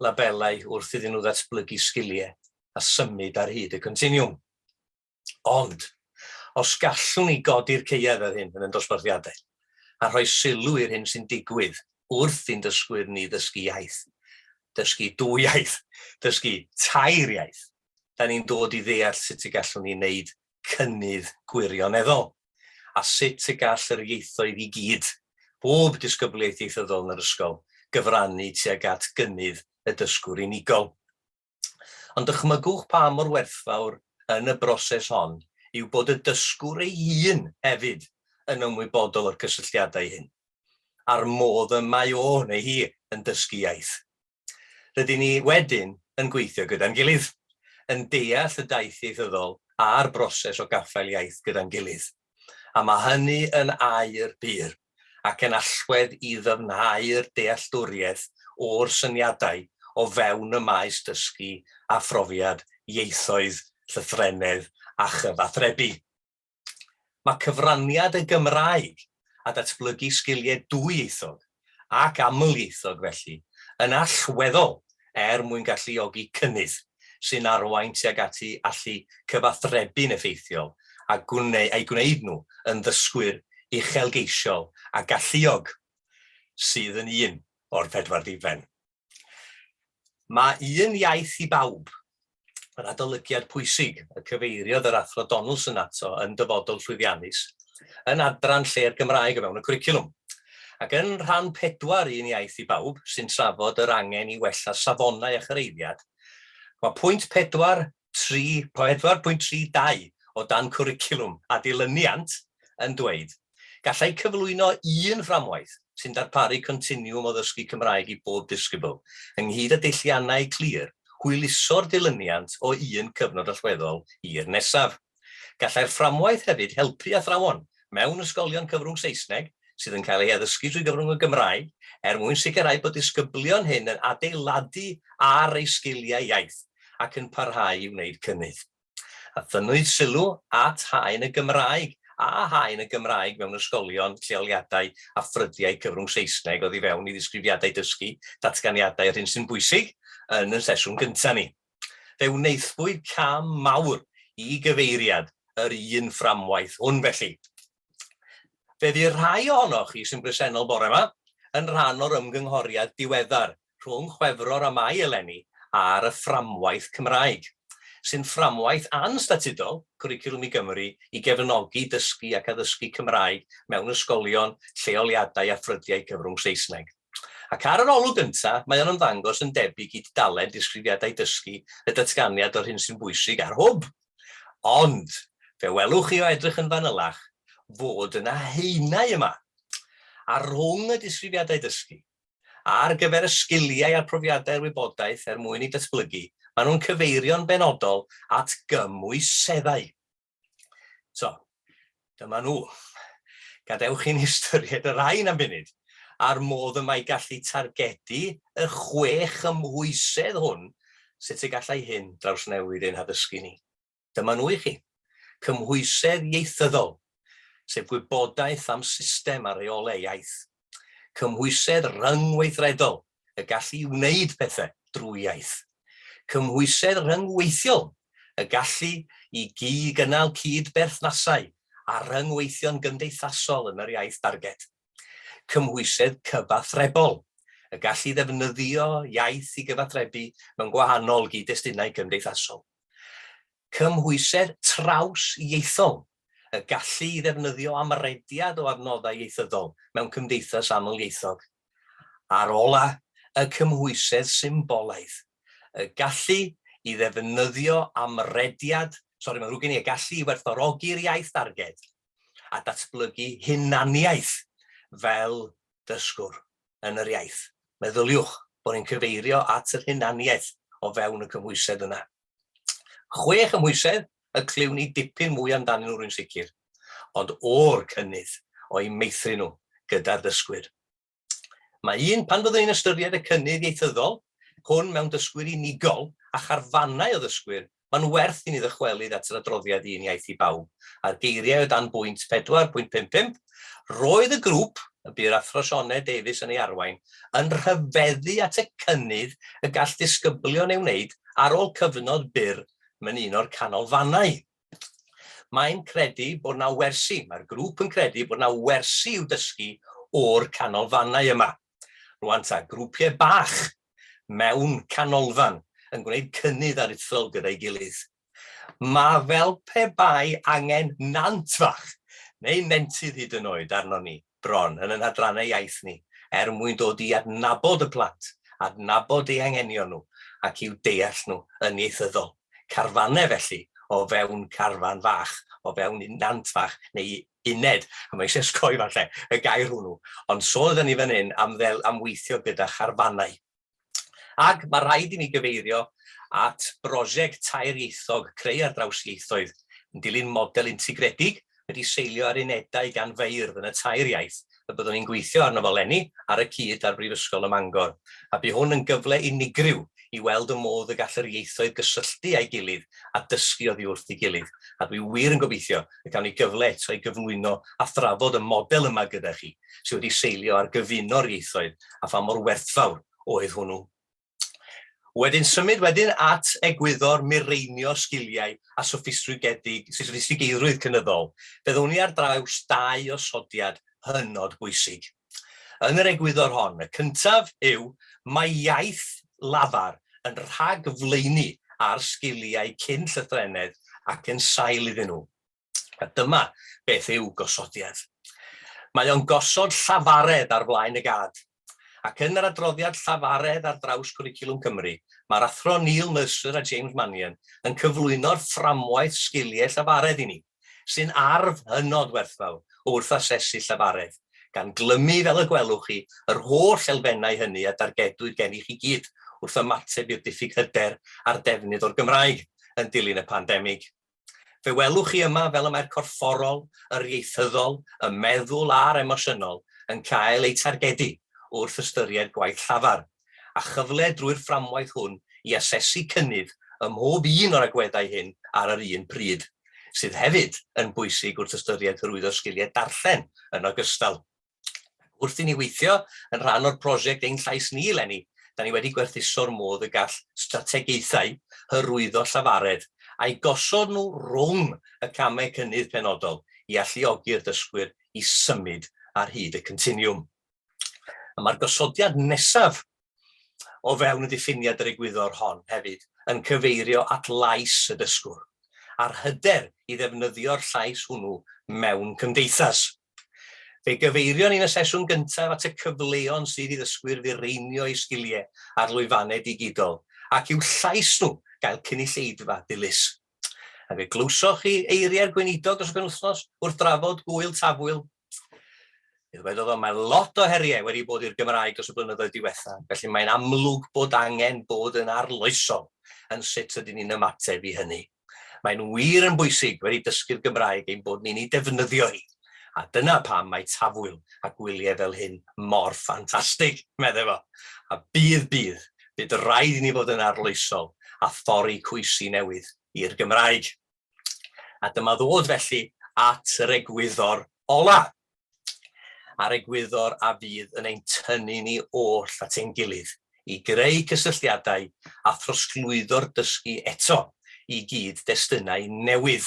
labelau wrth iddyn nhw ddatblygu sgiliau a symud ar hyd y continiwm. Ond, os gallwn ni godi'r ceuedd ar hyn yn y dosbarthiadau a rhoi sylw i'r hyn sy'n digwydd wrth i'n dysgwyr ni ddysgu iaith, dysgu dwy iaith, dysgu tair iaith, da ni'n dod i ddeall sut y gallwn ni wneud cynnydd gwirioneddol, a sut y gall yr ieithoedd i gyd, bob disgyblaeth ieithyddol yn yr ysgol, gyfrannu tuag at gynnydd y dysgwr unigol. Ond dychmygwch pa mor werthfawr yn y broses hon yw bod y dysgwr ei hun hefyd yn ymwybodol o'r cysylltiadau hyn, a'r modd y mae o neu hi yn dysgu iaith. Rydyn ni wedyn yn gweithio gyda'n gilydd, yn deall y daith ieithyddol a'r broses o gaffael iaith gyda'n gilydd, a mae hynny yn air pur ac yn allwedd i ddyfnhau'r dealltwriaeth o'r syniadau o fewn y maes dysgu a phrofiad ieithoedd, llythrennedd a chyfathrebu. Mae cyfraniad y Gymraeg a datblygu sgiliau dwyieithog ac amlieithog felly yn allweddol er mwyn galluogi cynnydd sy'n arwain tuag at eu allu cyfathrebu'n effeithiol a'u gwneud nhw yn ddysgwyr uchelgeisiol a galluog sydd yn un o'r pedwar diben. Mae un iaith i bawb, yr adolygiad pwysig y cyfeiriodd yr Athro Donaldson ato yn Dyfodol Llwyddiannus, yn adran lle'r Gymraeg o fewn y cwricwlwm. Ac yn rhan pedwar Un Iaith i Bawb, sy'n trafod yr angen i wella safonau a chyrhaeddiad, mae pwynt pedwar 4.32 o dan Cwricwlwm a Dilyniant yn dweud, Gallai cyflwyno un fframwaith sy'n darparu continwwm o ddysgu Cymraeg i bob disgybl, ynghyd â deilliannau clir, hwyluso'r dilyniant o un cyfnod allweddol i'r nesaf. Gallai'r fframwaith hefyd helpu athrawon mewn ysgolion cyfrwng Saesneg sydd yn cael ei addysgu trwy gyfrwng y Gymraeg er mwyn sicrhau bod disgyblion hŷn yn adeiladu ar eu sgiliau iaith ac yn parhau i wneud cynnydd. A thynnwyd sylw at haen y Gymraeg a haen y Gymraeg mewn ysgolion, lleoliadau a ffrydiau cyfrwng Saesneg oddi fewn i ddisgrifiadau dysgu, datganiadau a'r hyn sy'n bwysig yn y sesiwn gyntaf ni. Fe wnaethpwyd cam mawr i gyfeiriad yr un fframwaith hwn felly. Fe fu rhai ohonoch chi sy'n bresennol bore yma yn rhan o'r ymgynghoriad diweddar rhwng Chwefror a Mai eleni ar y fframwaith Cymraeg, sy'n fframwaith anstatudol Cwricwlwm i Gymru i gefnogi dysgu ac addysgu Cymraeg mewn ysgolion, lleoliadau a ffrydiau cyfrwng Saesneg. Ac ar yr olwg gyntaf, mae o'n ymddangos yn debyg i dudalen Disgrifiadau Dysgu y Datganiad o'r Hyn sy'n Bwysig ar Hwb. Ond, fe welwch chi o edrych yn fanylach, fod yna haenau yma, a rhwng y Disgrifiadau Dysgu, ar gyfer y sgiliau a'r profiadau'r wybodaeth er mwyn ei datblygu, maen nhw'n cyfeirio'n benodol at gymwyseddau. So, dyma nhw. Gadewch i'n hystyried y rhain am funud, a'r modd y mae gallu targedu y chwe chymhwysedd hwn, sut y gallai hyn drawsnewid ein haddysgu ni. Dyma nhw i chi. Cymhwysedd ieithyddol, sef gwybodaeth am system a reolau iaith. Cymhwysedd rhyngweithredol, y gallu i wneud pethau drwy iaith. Cymhwysedd rhyngweithiol, y gallu i gyd-gynnal cyd-berthnasau a rhyngweithio'n gymdeithasol yn yr iaith darged. Cymhwysedd cyfathrebol, y gallu i ddefnyddio iaith i gyfathrebu mewn gwahanol gyd-destunau cymdeithasol. cymhwysedd traws-ieithol, y gallu i ddefnyddio amrediad o adnoddau ieithyddol mewn cymdeithas aml-ieithog, a'r ola', y cymhwysedd symbolaidd, y gallu i ddefnyddio amrediad, sori mae'n ddrwg gen i, y gallu i werthfawrogi'r iaith darged a datblygu hunaniaeth fel dysgwr yn yr iaith. Meddyliwch bod ni'n cyfeirio at yr hunaniaeth o fewn y cymhwysedd yna. Chwe chymhwysedd y clywn ni dipyn mwy amdanyn nhw rwy'n sicr, ond o'r cynnydd o'u meithrin nhw gyda'r dysgwyr. Mae un, pan fyddwn ni'n ystyried y cynnydd ieithyddol hwn mewn dysgwyr unigol a charfannau o ddysgwyr, mae'n werth i ni ddychwelyd at yr adroddiad Un Iaith i Bawb a'r geiriau o dan bwynt 4.55 Roedd y grŵp, y bu'r Athro Sioned Davies yn ei arwain, yn rhyfeddu at y cynnydd y gall ddisgyblion ei wneud ar ôl cyfnod byr mewn un o'r canolfannau. Mae'n credu bod na wersi, mae'r grŵp yn credu bod na wersi i'w dysgu o'r canolfannau yma. Rwan ta, grwpiau bach mewn canolfan yn gwneud cynnydd aruthrol gyda'i gilydd. Mae fel pe bai angen nant fach, neu nentydd hyd yn oed, arnon ni, bron, yn ein hadrannau iaith ni, er mwyn dod i adnabod y plant, adnabod eu hanghenion nhw, ac i'w deall nhw yn ieithyddol. Carfannau, felly, o fewn carfan fach, o fewn nant fach, neu uned, a mae eisiau osgoi, falle, y gair hwnnw, ond sôn ydan ni fan hyn am weithio gyda charfannau. Ac mae rhaid i mi gyfeirio at brosiect tair ieithog Creu ar Draws Ieithoedd, yn dilyn model integredig wedi seilio ar unedau gan feirdd yn y tair iaith y byddwn ni'n gweithio arno fo 'leni ar y cyd â'r Brifysgol ym Mangor, a bu hwn yn gyfle unigryw i weld y modd y gall yr ieithoedd gysylltu â'i gilydd a dysgu oddi wrth ei gilydd, a dwi wir yn gobeithio y cawn ni gyfle eto i gyflwyno a thrafod y model yma gyda chi. sydd wedi seilio ar gyfuno'r ieithoedd a pha mor werthfawr oedd hwnnw. Wedyn symud wedyn at egwyddor mireinio sgiliau a soffistigedig, soffistigeiddrwydd cynyddol, fe ddown ni ar draws dau osodiad hynod bwysig. Yn yr egwyddor hon, y cyntaf yw mae iaith lafar yn rhagflaenu ar sgiliau cyn llythrennedd ac yn sail iddyn nhw. A dyma beth yw gosodiad. Mae o'n gosod llafaredd ar flaen y gad. Ac yn yr adroddiad llafaredd ar draws Cwricwlwm Cymru, mae'r Athro Neil Mercer a James Mannion yn cyflwyno'r fframwaith sgiliau llafaredd i ni, sy'n arf hynod werthfawr wrth asesu llafaredd, gan glymu, fel y gwelwch chi, yr holl elfennau hynny a dargedwyd gen i chi gyd wrth ymateb i'r diffyg hyder a'r defnydd o'r Gymraeg yn dilyn y pandemig. Fe welwch chi yma fel y mae'r corfforol, yr ieithyddol, y meddwl a'r emosiynol yn cael eu targedu wrth ystyried gwaith llafar, a chyfle drwy'r fframwaith hwn i asesu cynnydd ym mhob un o'r agweddau hyn ar yr un pryd, sydd hefyd yn bwysig wrth ystyried hyrwyddo sgiliau darllen yn ogystal. Wrth i ni weithio yn rhan o'r prosiect Ein Llais Ni eleni, da ni wedi gwerthuso'r modd y gall strategaethau hyrwyddo llafaredd a'i gosod nhw rhwng y camau cynnydd penodol i alluogi'r dysgwyr i symud ar hyd y continiwm. A mae'r gosodiad nesaf o fewn y diffiniad yr egwyddor hon hefyd yn cyfeirio at lais y dysgwr, a'r hyder i ddefnyddio'r llais hwnnw mewn cymdeithas. Fe gyfeirion ni'n y sesiwn gyntaf at y cyfleon sydd i ddysgwyr fireinio eu sgiliau ar lwyfannau digidol ac i'w llais nhw gael cynulleidfa dilys. A fe glywsoch chi eiriau'r Gweinidog dros y penwythnos wrth drafod Gŵyl Tafwyl. Fe ddywedodd o, mae lot o heriau wedi bod i'r Gymraeg dros y blynyddoedd diwethaf, felly mae'n amlwg bod angen bod yn arloesol yn sut ydyn ni'n ymateb i hynny. Mae'n wir yn bwysig wedi dysgu'r Gymraeg ein bod ni'n ei defnyddio hi, a dyna pam mae Tafwyl a gwyliau fel hyn mor ffantastig, meddai fo. A bydd, bydd, bydd rhaid i ni fod yn arloesol a thorri coesi newydd i'r Gymraeg. A dyma ddod felly at yr egwyddor ola'. a'r egwyddor a fydd yn ein tynnu ni oll at ein gilydd i greu cysylltiadau a throsglwyddo'r dysgu eto i gyd destunau newydd.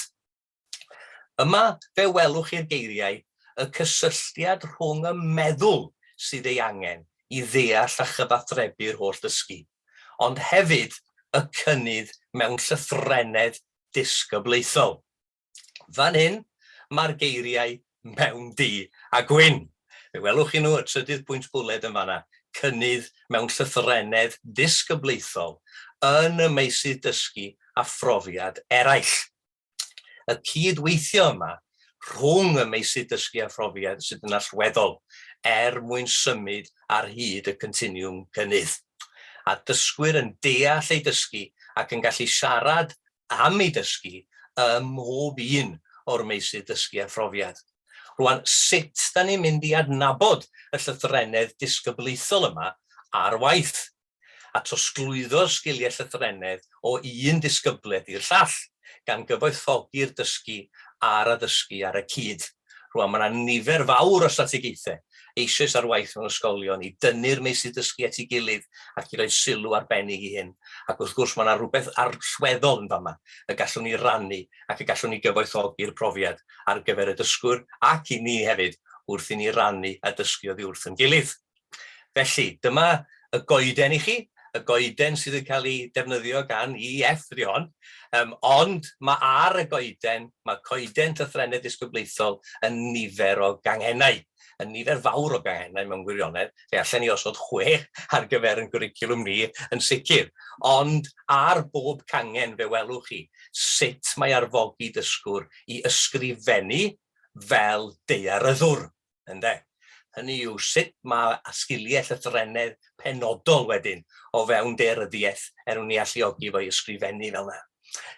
Yma fe welwch chi'r geiriau y cysylltiad rhwng y meddwl sydd ei angen i ddeall a chyfathrebu'r holl ddysgu, ond hefyd y cynnydd mewn llythrennedd disgyblaethol. Fan hyn, mae'r geiriau mewn du a gwyn. Fe welwch chi nhw, y trydydd pwynt bwled yn fanna, cynnydd mewn llythrennedd disgyblaethol yn y meysydd dysgu a phrofiad eraill. Y cyd-weithio yma rhwng y meysydd dysgu a phrofiad sydd yn allweddol er mwyn symud ar hyd y continiwm cynnydd. A dysgwyr yn deall ei dysgu ac yn gallu siarad am ei dysgu ym mhob un o'r meysydd dysgu a phrofiad. Rwan, sut da ni'n mynd i adnabod y llythrennedd disgyblaethol yma ar waith, a trosglwyddo'r sgiliau llythrennedd o un disgybledd i'r llall, gan gyfoethogi'r dysgu a'r addysgu ar y cyd. Rwan, mae yna nifer fawr o strategaethau eisoes ar waith mewn ysgolion i dynnu'r meysydd dysgu at ei gilydd ac i roi sylw arbennig i hyn, ac wrth gwrs mae yna rywbeth allweddol yn fama y gallwn ni rannu ac y gallwn ni gyfoethogi'r profiad ar gyfer y dysgwr ac i ni hefyd wrth i ni rannu a dysgu oddi wrth ein gilydd. Felly, dyma y goeden i chi, y goeden sydd yn cael ei defnyddio gan EF ydy hon, um, ond mae ar y goeden, mae coeden llythrennedd disgyblaethol yn nifer o ganghennau, yn nifer fawr o ganghennau mewn gwirionedd, fe allan ni osod chwech ar gyfer yn gwricilwm ni yn sicr, ond ar bob cangen fe welwch chi sut mae arfogi dysgwr i ysgrifennu fel deiaryddwr. ynde? Hynny yw, sut mae sgiliau llythrennedd penodol wedyn o fewn dearyddiaeth er mwyn i alluogi fo i ysgrifennu fel yna.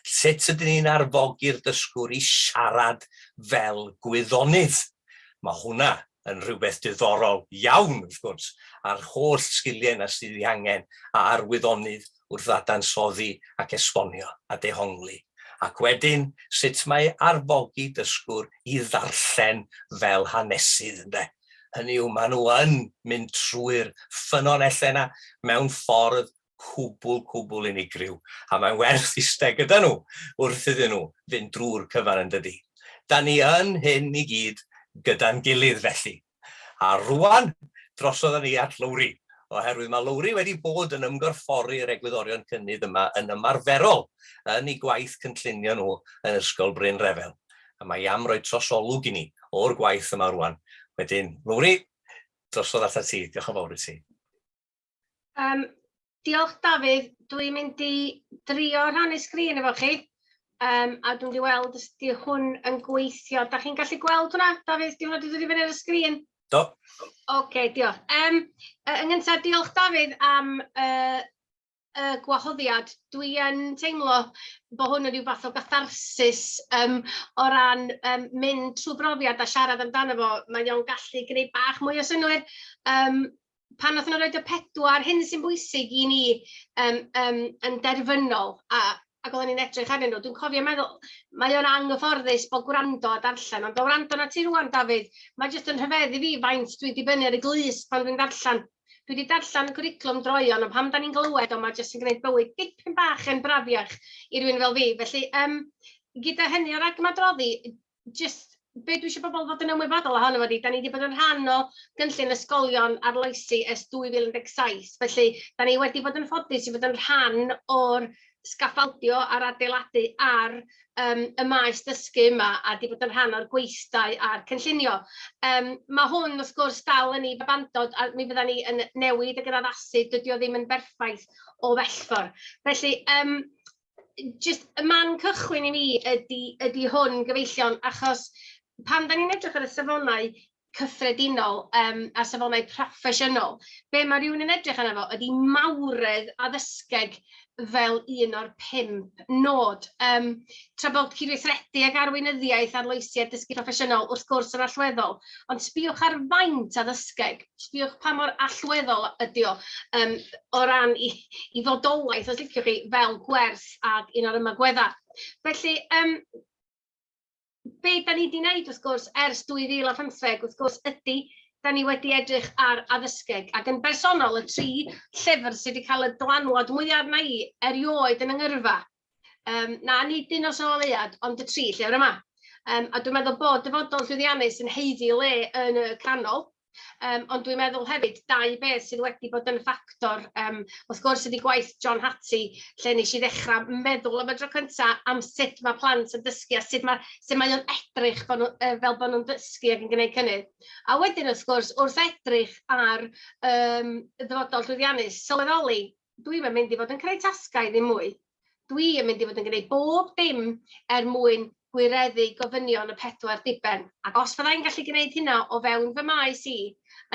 Sut ydyn ni'n arfogi'r dysgwr i siarad fel gwyddonydd? Mae hwnna yn rhywbeth diddorol iawn, wrth gwrs, a'r holl sgiliau yna sydd ei angen a arwyddonydd wrth ddadansoddi ac esbonio a dehongli, ac wedyn sut mae arfogi dysgwr i ddarllen fel hanesydd, ynde? Hynny yw, maen nhw yn mynd trwy'r ffynonellau yna mewn ffordd cwbl, cwbl unigryw, a mae'n werth iste gyda nhw wrth iddyn nhw fynd drwy'r cyfan, yn dydi? Da ni yn hyn i gyd gyda'n gilydd, felly. A rŵan, drosodd â ni at Lowri, oherwydd mae Lowri wedi bod yn ymgorffori'r egwyddorion cynnydd yma yn ymarferol yn eu gwaith cynllunio nhw yn Ysgol Bryn Refel, a mae am roi trosolwg i ni o'r gwaith yma rŵan. Wedyn, Lowri, drosodd atat ti. Diolch yn fawr i ti. Um, diolch Dafydd, dwi'n mynd i drio rhannu sgrin efo chi, um, a dwi'n mynd i weld os di hwn yn gweithio. Da chi'n gallu gweld hwnna, Dafydd, di hwnna di dod i fyny ar y sgrin? Do. Oce, okay, diolch. Um, yn gyntaf, diolch Dafydd am uh, y gwahoddiad. Dwi yn teimlo bod hwn yn rhyw fath o gatharsis um, o ran um, mynd trwy brofiad a siarad amdano fo. Mae o'n gallu gwneud bach mwy o synwyr. Um, pan wnaethon nhw roid y pedwar hyn sy'n bwysig i ni um, um, yn derfynol, a, ac oedden ni'n edrych arnyn nhw, dwi'n cofio meddwl, mae o'n anghyfforddus bod gwrando a darllen, ond o wrando na ti rwan, Dafydd, mae jyst yn rhyfedd i fi faint dwi'n dibynnu ar y glus pan dwi'n darllen. Dwi wedi darllen y cwriclwm droion, ond pam da ni'n glywed o, mae jyst yn gwneud bywyd dipyn bach yn brafiach i rywun fel fi. Felly, um, gyda hynny o ragmadroddi, jyst be dwi isio pobl fod yn ymwybodol ohono fo ydy, dan ni 'di bod yn rhan o gynllun ysgolion arloesi ers 2017, felly dan ni wedi bod yn ffodus i fod yn rhan o'r sgaffaldio a'r adeiladu ar yym y maes dysgu yma, a 'di bod yn rhan o'r gweithdai a'r cynllunio. Yym ma' hwn wrth gwrs dal yn ei babandod, a mi fyddan ni yn newid ag yr addasu, dydy o ddim yn berffaith o bell ffordd. Felly yym jyst y man cychwyn i mi ydy, ydy hwn gyfeillion, achos pan da ni'n edrych ar y safonau cyffredinol um, a safonau proffesiynol, be mae rhywun yn edrych arno fo ydy mawredd addysgeg fel un o'r pimp nod. Um, tra bod cydweithredu ag arweinyddiaeth, arloesi a dysgu proffesiynol wrth gwrs yn allweddol, ond sbiwch ar faint addysgeg, sbiwch pa mor allweddol ydy o um, o ran i i fodolaeth, os liciwch chi, fel gwers ac un o'r ymagweddau. Felly, yym, be da ni wedi wneud, wrth gwrs, ers 2015, wrth gwrs, ydy, da ni wedi edrych ar addysgeg, ac yn bersonol, y tri llyfr sydd wedi cael y dylanwad mwyaf arna i erioed yn yngyrfa, Um, na, nid un o Sôl Ead, ond y tri llyfr yma. Um, a dwi'n meddwl bod dyfodol llwyddiannus yn heiddi le yn y canol, um, ond dwi'n meddwl hefyd dau beth sydd wedi bod yn ffactor, um, wrth gwrs ydy gwaith John Hattie, lle nes i ddechrau meddwl am y dro cyntaf am sut mae plant yn dysgu a sut mae, sut mae o'n edrych bod nhw, uh, fel bod nhw'n dysgu ac yn gwneud cynnydd. A wedyn, wrth gwrs, wrth edrych ar um, ddyfodol llwyddiannus, sylweddoli dwi'm yn mynd i fod yn creu tasgau ddim mwy. Dwi yn mynd i fod yn gwneud bob dim er mwyn gwireddu gofynion y pedwar diben. Ac os fydda i'n gallu gwneud hynna o fewn fy maes i,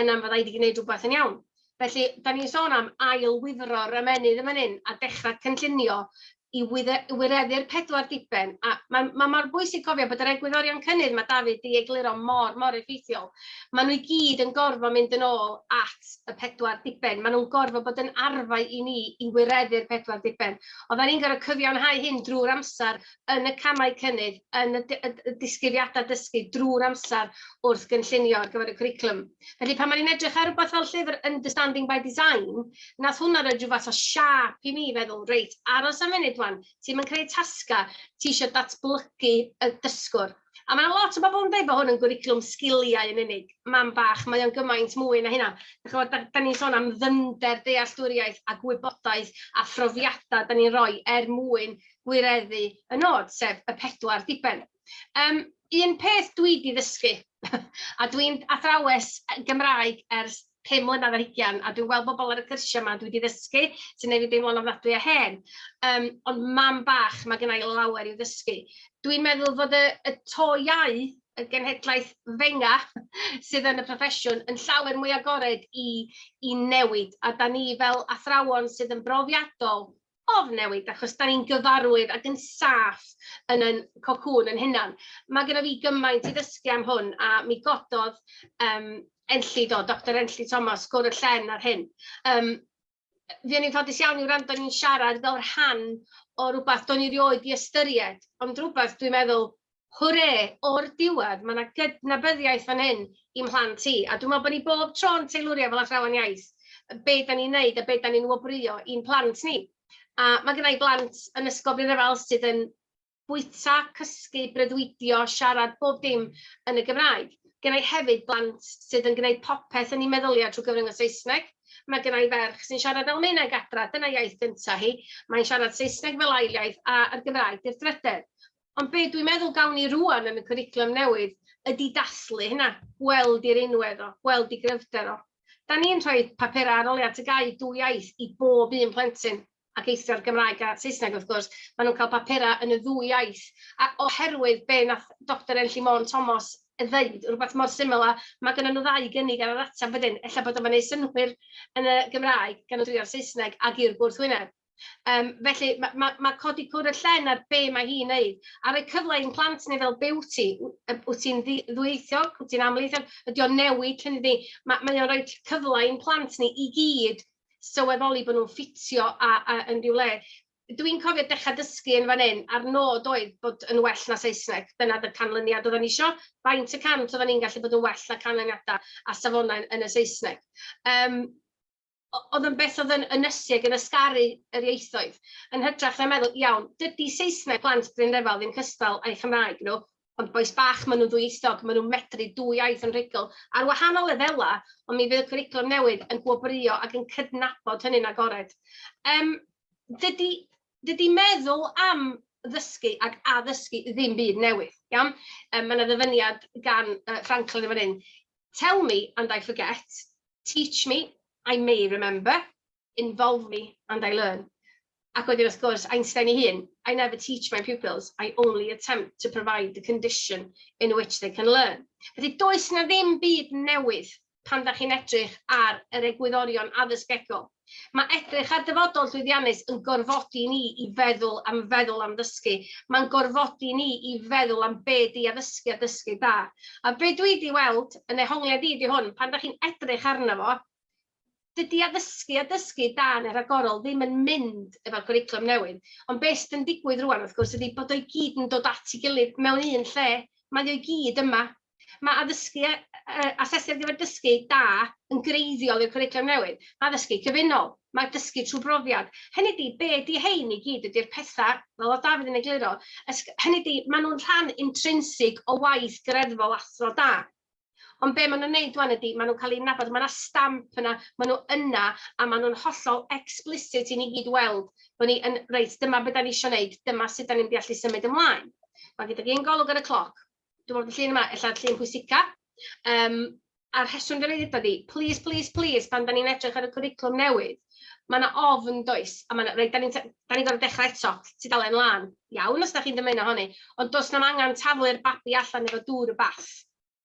yna fydda i wedi gwneud rhywbeth yn iawn. Felly, da ni'n sôn am ail-wifro'r ymennydd yn fan hyn a dechrau cynllunio i wireddu'r pedwar diben. A mae ma' mor bwysig cofio bod yr egwyddorion cynnydd mae David 'di egluro mor, mor effeithiol. Maen nhw i gyd yn gorfod mynd yn ôl at y pedwar diben. Maen nhw'n gorfod bod yn arfau i ni i wireddu'r pedwar diben. Oedden ni'n gorfod cyfiawnhau hyn drwy'r amser yn y camau cynnydd, yn y disgrifiadau dysgu, drwy'r amser wrth gynllunio ar gyfer y cwricwlwm. Felly pan o'n i'n edrych ar rhywbeth fel llyfr Understanding by Design, nath hwnna roed rhyw fath o siâp i mi feddwl, reit, aros am funud wan, ti'm yn creu tasga, ti eisiau datblygu y dysgwr. A mae yna lot o bobl yn dweud bod hwn yn gwricwlwm sgiliau yn unig. Mam bach, mae o'n gymaint mwy na hynna. Dych ch'mod, da, da ni'n sôn am ddyfnder dealltwriaeth a gwybodaeth a phrofiadau da ni'n rhoi er mwyn gwireddu y nod, sef y pedwar diben. Yym, un peth dwi 'di ddysgu, a dwi'n athrawes Gymraeg ers pum mlynedd ar hugain, a dwi'n gweld bobl ar y cyrsiau 'ma dwi 'di ddysgu, sy'n gwneud fi deimlo'n ofnadwy o hen. Yym, ond mam bach, mae gynna i lawer i'w ddysgu. Dwi'n meddwl fod y y to iaith, y genhedlaeth 'fenga', sydd yn y proffesiwn, yn llawer mwy agored i i newid, a dan ni fel athrawon sydd yn brofiadol, ofn newid achos dan ni'n gyfarwydd ac yn saff yn ein cocŵn ein hunain. Mae gennyf fi gymaint i ddysgu am hwn a mi gododd yym Enlli do, Doctor Enlli Thomas, gwr y llen ar hyn. Yym fuon ni'n ffodus iawn i wrando ni'n siarad fel rhan o rywbeth do'n i rioed 'di ystyried, ond rywbeth dwi'n meddwl Hwre! O'r diwedd, mae 'na gydnabyddiaeth fan hyn i'm mhlant i, a dwi'n meddwl bod ni bob tro'n teilwrio fel athrawon iaith be dan ni'n wneud a be dan ni'n wobrwyo i'n plant ni. A mae gynna i blant yn Ysgol Bryn yr Allt sydd yn bwyta, cysgu, breuddwydio, siarad, bob dim yn y Gymraeg. Gynna i hefyd blant sydd yn gwneud popeth yn eu meddyliau trwy gyfrwng y Saesneg. Mae gynna i ferch sy'n siarad Almaeneg adra, dyna iaith gynta hi. Mae'n siarad Saesneg fel ail iaith a'r Gymraeg 'di'r drydedd. Ond be dwi'n meddwl gawn ni rwan yn y cwricwlwm newydd ydy dathlu hynna, gweld i'r unwedd o, gweld i gryfder o. Da ni'n rhoi papurau arholiad TGAU dwy iaith i bob un plentyn, ac eithr Gymraeg a Saesneg wrth gwrs, maen nhw'n cael papurau yn y ddwy iaith. A oherwydd be nath Doctor Enlli Môn Tomos ddeud, rhywbeth mor syml â, mae gennyn nhw ddau gynnig ar yr ateb wedyn, ella bod o'n gwneud synnwyr yn y Gymraeg gan y dwy o'r Saesneg ac i'r gwrthwyneb. Yym, felly ma' ma' ma' codi cwr y llen ar be' mae hi'n neud, a rhoi cyfle i'n plant ni fel be' wyt ti? W- yy wyt ti'n ddi- ddwyieithog, wyt ti'n amlieithog, ydi o'n newid hynny di? Ma' mae o'n rhoi t- cyfle i'n plant ni i gyd sylweddoli bo' nhw'n ffitio a a yn ryw le. Dwi'n cofio dechra dysgu yn fan 'yn, a'r nod oedd bod yn well na Saesneg, dyna oedd y canlyniad oeddan ni isio, faint y cant oeddan ni'n gallu bod yn well na canlyniadau a safonau yn y Saesneg. Yym. oedd yn beth oedd yn ynysu ac yn ysgaru yr ieithoedd, yn hytrach na meddwl, iawn, dydy Saesneg plant Bryn Refel ddim cystal â'u Chymraeg nhw, ond bois bach, maen nhw'n ddwyieithog, maen nhw'n medru dwy iaith yn rhugl, ar wahanol lefelau, ond mi fydd y cwricwlwm newydd yn gwobrwyo ac yn cydnabod hynny'n agored. Yym, dydy, dydy meddwl am ddysgu ac addysgu ddim byd newydd, iawn? Um, mae yna ddyfyniad gan uh, Franklin yn fan hyn, Tell me and I forget, Teach me, I may remember, involve me and I learn. Ac wedyn wrth gwrs, Einstein ei hun, I never teach my pupils, I only attempt to provide the condition in which they can learn. Felly, does na ddim byd newydd pan da chi'n edrych ar yr egwyddorion addysg egol. Mae edrych ar dyfodol llwyddiannus yn gorfodi ni i feddwl am feddwl am ddysgu. Mae'n gorfodi ni i feddwl am be di addysgu a dysgu da. A be dwi di weld yn ehongliad i ydi hwn, pan da chi'n edrych arno fo, dydi addysgu a dysgu da yn y rhagorol ddim yn mynd efo'r cwricwlwm newydd. Ond be sydd yn digwydd rŵan, wrth gwrs, ydi bod o i gyd yn dod at ei gilydd mewn un lle. Mae o i gyd yma. Mae addysgu a asesu ar gyfer dysgu da yn greiddiol i'r cwricwlwm newydd. Mae addysgu cyfunol, mae dysgu trwy brofiad, hynny ydi, be ydi hein i gyd ydi'r pethau, fel oedd Dafydd yn egluro, hynny ydi, maen nhw'n rhan intrinsig o waith greddfol athro da. Ond be maen nhw'n neud wan ydi, maen nhw'n cael eu nabod, mae yna stamp yna, maen nhw yna, a maen nhw'n hollol explicit i ni gyd weld bod ni yn, reit, dyma be da ni isio neud, dyma sut da ni'n mynd i allu symud ymlaen. Mae gyda fi un golwg ar y cloc. dwi'n meddwl bod y llun yma ella'r llun pwysica. Um, a'r rheswm dwi'n ei ddweud ni, plis, plis, plis, pan da ni'n edrych ar y cwriclwm newydd, mae yna ofn does, a mae yna, reit, da ni'n ni gorfod dechrau eto, tudalen lan, iawn os da chi'n dymuno honni, ond does na'm angen taflu'r babi allan efo dŵr y bath.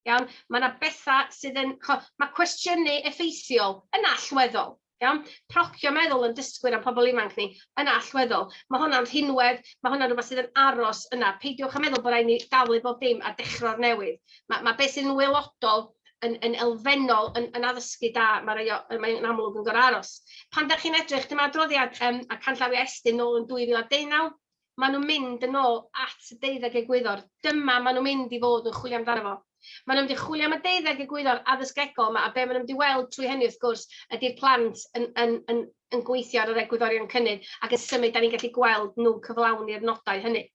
Iawn, mae yna bethau sydd yn, mae cwestiynu effeithiol yn allweddol, Iawn? Procio meddwl yn dysgwyr a'n pobl ifanc ni yn allweddol. Mae hwnna'n rhinwedd, mae hwnna'n rhywbeth sydd yn aros yna. Peidiwch â meddwl bod rhaid ni dalu bob dim a dechrau o'r newydd. Mae, mae beth sydd yn waelodol yn, yn elfennol, yn, yn addysgu da, mae rei o, mae'n amlwg yn gorau aros. Pan da chi'n edrych, dyma adroddiad um, a canllawiau Estyn nôl yn 2019, maen nhw'n mynd yn ôl at y deuddeg egwyddor. Dyma maen nhw'n mynd i fod yn chwilio amdano fo. Maen nhw'n mynd i chwilio am y deuddeg egwyddor addysgegol yma, a be maen nhw'n mynd i weld trwy hynny, wrth gwrs, ydy'r plant yn, yn, yn, yn gweithio ar yr egwyddorion cynnydd ac yn symud, da ni'n gallu gweld nhw'n cyflawni'r nodau hynny.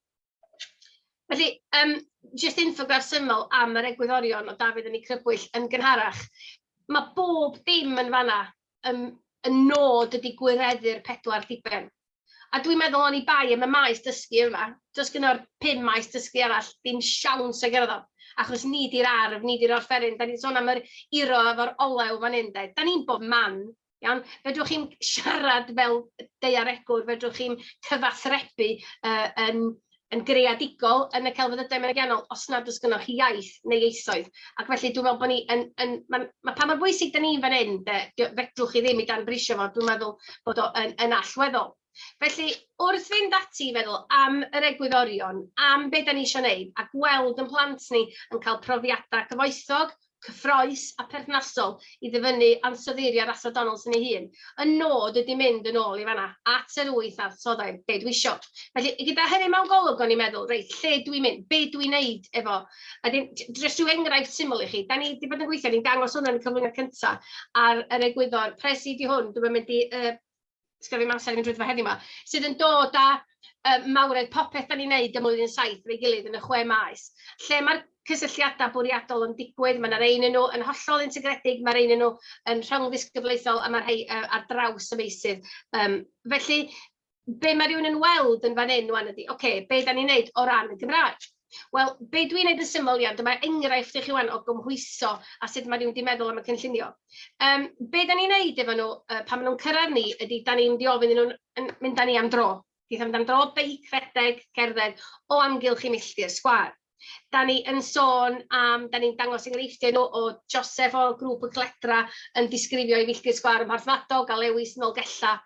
Felly, um, jyst infograff syml am yr egwyddorion o Dafydd yn ei crybwyll yn gynharach. Mae bob dim yn fanna ym, y nod ydy gwireddu'r pedwar diben. A dwi'n meddwl oni bai am y maes dysgu yma, does gyda'r pum maes dysgu arall ddim siawns o gyrraedd o, achos ni di'r arf, ni di'r orffenyn. Da ni'n sôn am yr iro efo'r olew fan hyn de. Da ni'n bob man, iawn. Fedrwch chi'm siarad fel daearegwr, fedrwch chi'm cyfathrebu yy yn yn greadigol yn y celfyddydau meriddianol os nad oes gennych chi iaith neu ieithoedd. Ac felly dwi'n meddwl bod ni yn... yn ma, ma, pa mor bwysig da ni fan hyn, de, fedrwch chi ddim i dan brisio fo, dwi'n meddwl bod o yn, yn allweddol. Felly, wrth fynd ati i feddwl am yr egwyddorion, am beth da ni eisiau gwneud, a gweld yn plant ni yn cael profiadau cyfoethog, cyffrous a pherthnasol i ddyfynnu ansoddeiriau'r Athro Donaldson ei hun. Y nod ydi mynd yn ôl i fan'na, at yr wyth ansoddair, be dwi isio. Felly, gyda hynny mewn golwg, o'n i'n meddwl, reit, lle dwi mynd, be dwi'n neud efo? A wedyn, jyst rhyw enghraifft syml i chi, da ni di bod yn gweithio, ni'n dangos hwn yn y cyflwyniad cynta, ar yr egwyddor, pres i di hwn, dwi'm yn mynd i yy sgynna fi'm amser i fynd drwyddo fo heddiw 'ma, sydd yn dod â yy mawredd popeth 'dan ni'n neud ym Mlwyddyn Saith efo'i gilydd yn y chwe maes. Lle ma'r cysylltiada bwriadol yn digwydd, ma' 'na rei ynnyn nw yn hollol integredig, ma' rei ynnyn nw yn rhyngddisgyblaethol, a ma' rhei yy ar draws y meysydd. Yym felly be' ma' rywun yn weld yn fan 'yn ŵan ydi, ocê, be' 'dan ni'n neud o ran y Gymraeg? Wel, be dwi'n wneud yn syml iawn, dyma enghraifft i chi wan o gymhwyso a sut mae rhywun wedi meddwl am y cynllunio. Um, be da ni'n wneud efo nhw uh, pan maen nhw'n cyrraedd ni ydy, da ni'n diofyn nhw'n mynd â ni am dro. Dwi'n mynd am dro beic, rhedeg, cerdded o amgylch i milltir sgwar. Da ni yn sôn am, da ni'n dangos enghreifftiau nhw o Joseph o grŵp y Cledra yn disgrifio i filltir sgwar ym Mharthmadog a Lewis yn Olgella.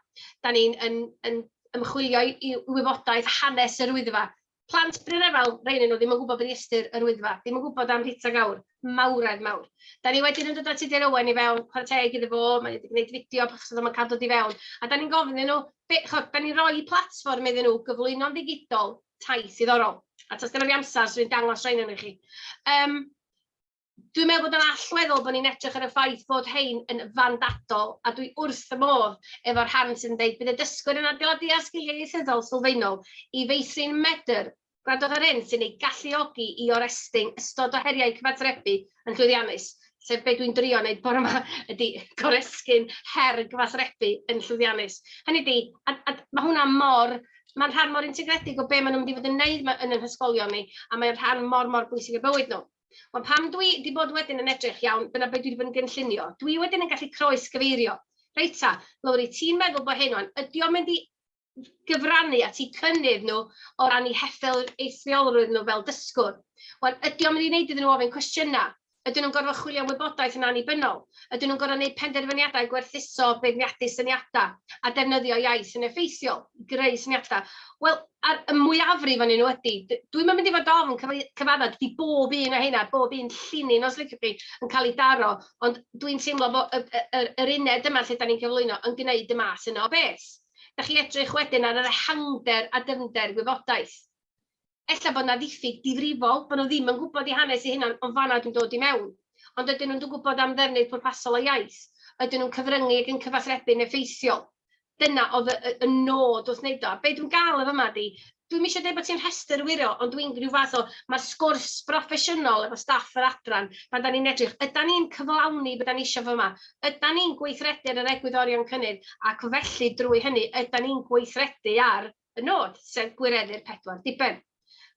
Da ni'n yn, yn ymchwilio i wybodaeth hanes yr wyddfa Plant Bryn Efel, rhai ohonyn nhw ddim yn gwybod beth i ystyr Yr Wyddfa, ddim yn gwybod am Rita Gawr, mawredd mawr. Da ni wedyn yn dod â Tudur Owen i fewn, chwarae teg iddo fo, mae wedi gwneud fideo achos achos oedd o'n cael dod i fewn, a da ni'n gofyn nhw, be, chod, da ni'n rhoi platfform iddyn nhw gyflwyno'n ddigidol taith ddiddorol. A tros gynnal fi amser, swn i'n dangos rhain i chi. Um, Dwi'n meddwl bod o'n allweddol bod ni'n edrych ar y ffaith fod hein yn fandadol, a dwi wrth fy modd efo'r rhan sydd yn deud bydd y dysgwyr yn adeiladu ar sgiliau ieithyddol sylfaenol i feithrin medr. Gwrandwch ar hyn sy'n eu galluogi i orestyn ystod o heriau cyfathrebu yn llwyddiannus, sef be dwi'n drio wneud bore yma, ydy goresgyn her gyfathrebu yn llwyddiannus. Hynny ydy, a, a mae hwnna mor mae'n rhan mor integredig o be maen nhw'n mynd i fod yn wneud yn ein hysgolion ni, a mae'n rhan mor, mor bwysig i'r bywyd nhw. Ond pan dwi 'di bod wedyn yn edrych, iawn, dyna be dwi 'di bod yn gynllunio, dwi wedyn yn gallu croes-gyfeirio. Reit ta, Lowri, ti'n meddwl bod hyn o'n, ydy o'n mynd i gyfrannu at eu cynnydd nhw o ran eu hethol eithriolrwydd nhw fel dysgwr? Wan, ydy o'n mynd i wneud iddyn nhw ofyn cwestiynau? Ydyn nhw'n gorfod chwilio am wybodaeth yn annibynnol? Ydyn nhw'n gorfod gwneud penderfyniadau gwerthuso, beirniadu syniadau, a defnyddio iaith yn effeithiol i greu syniadau? Wel, a'r y mwyafrif ohonyn nhw ydy. D- dwi'm yn mynd i fod ofn cyfei- cyfaddau, dydy bob un o heina, bob un llinyn os liciwch chi, yn cael ei daro, ond dwi'n teimlo fo- y y y yr uned yma lle 'dan ni'n cyflwyno yn gwneud y math yna o beth. Dach chi edrych wedyn ar yr ehangder a dyfnder gwybodaeth. ella bod 'na ddiffyg difrifol, bod nhw ddim yn gwybod eu hanes eu hunain, ond fan'na dwi'n dod i mewn. Ond ydyn nhw'n gwybod am ddefnydd pwrpasol o iaith? Ydyn nhw'n cyfryngu ac yn cyfathrebu'n effeithiol? Dyna oedd y, y, y nod wrth wneud o. A be dwi'n gael efo yma di, dwi'm eisiau dweud bod ti'n rhestr wiro, ond dwi'n rhyw fath o, mae'r sgwrs broffesiynol efo staff yr adran, pan da ni'n edrych, yda ni'n cyflawni beth da ni eisiau fo yma? Yda ni'n gweithredu ar yr egwyddorion cynnydd? Ac felly, drwy hynny, yda ni'n gweithredu ar y nod, sef gwireddu'r pedwar diben.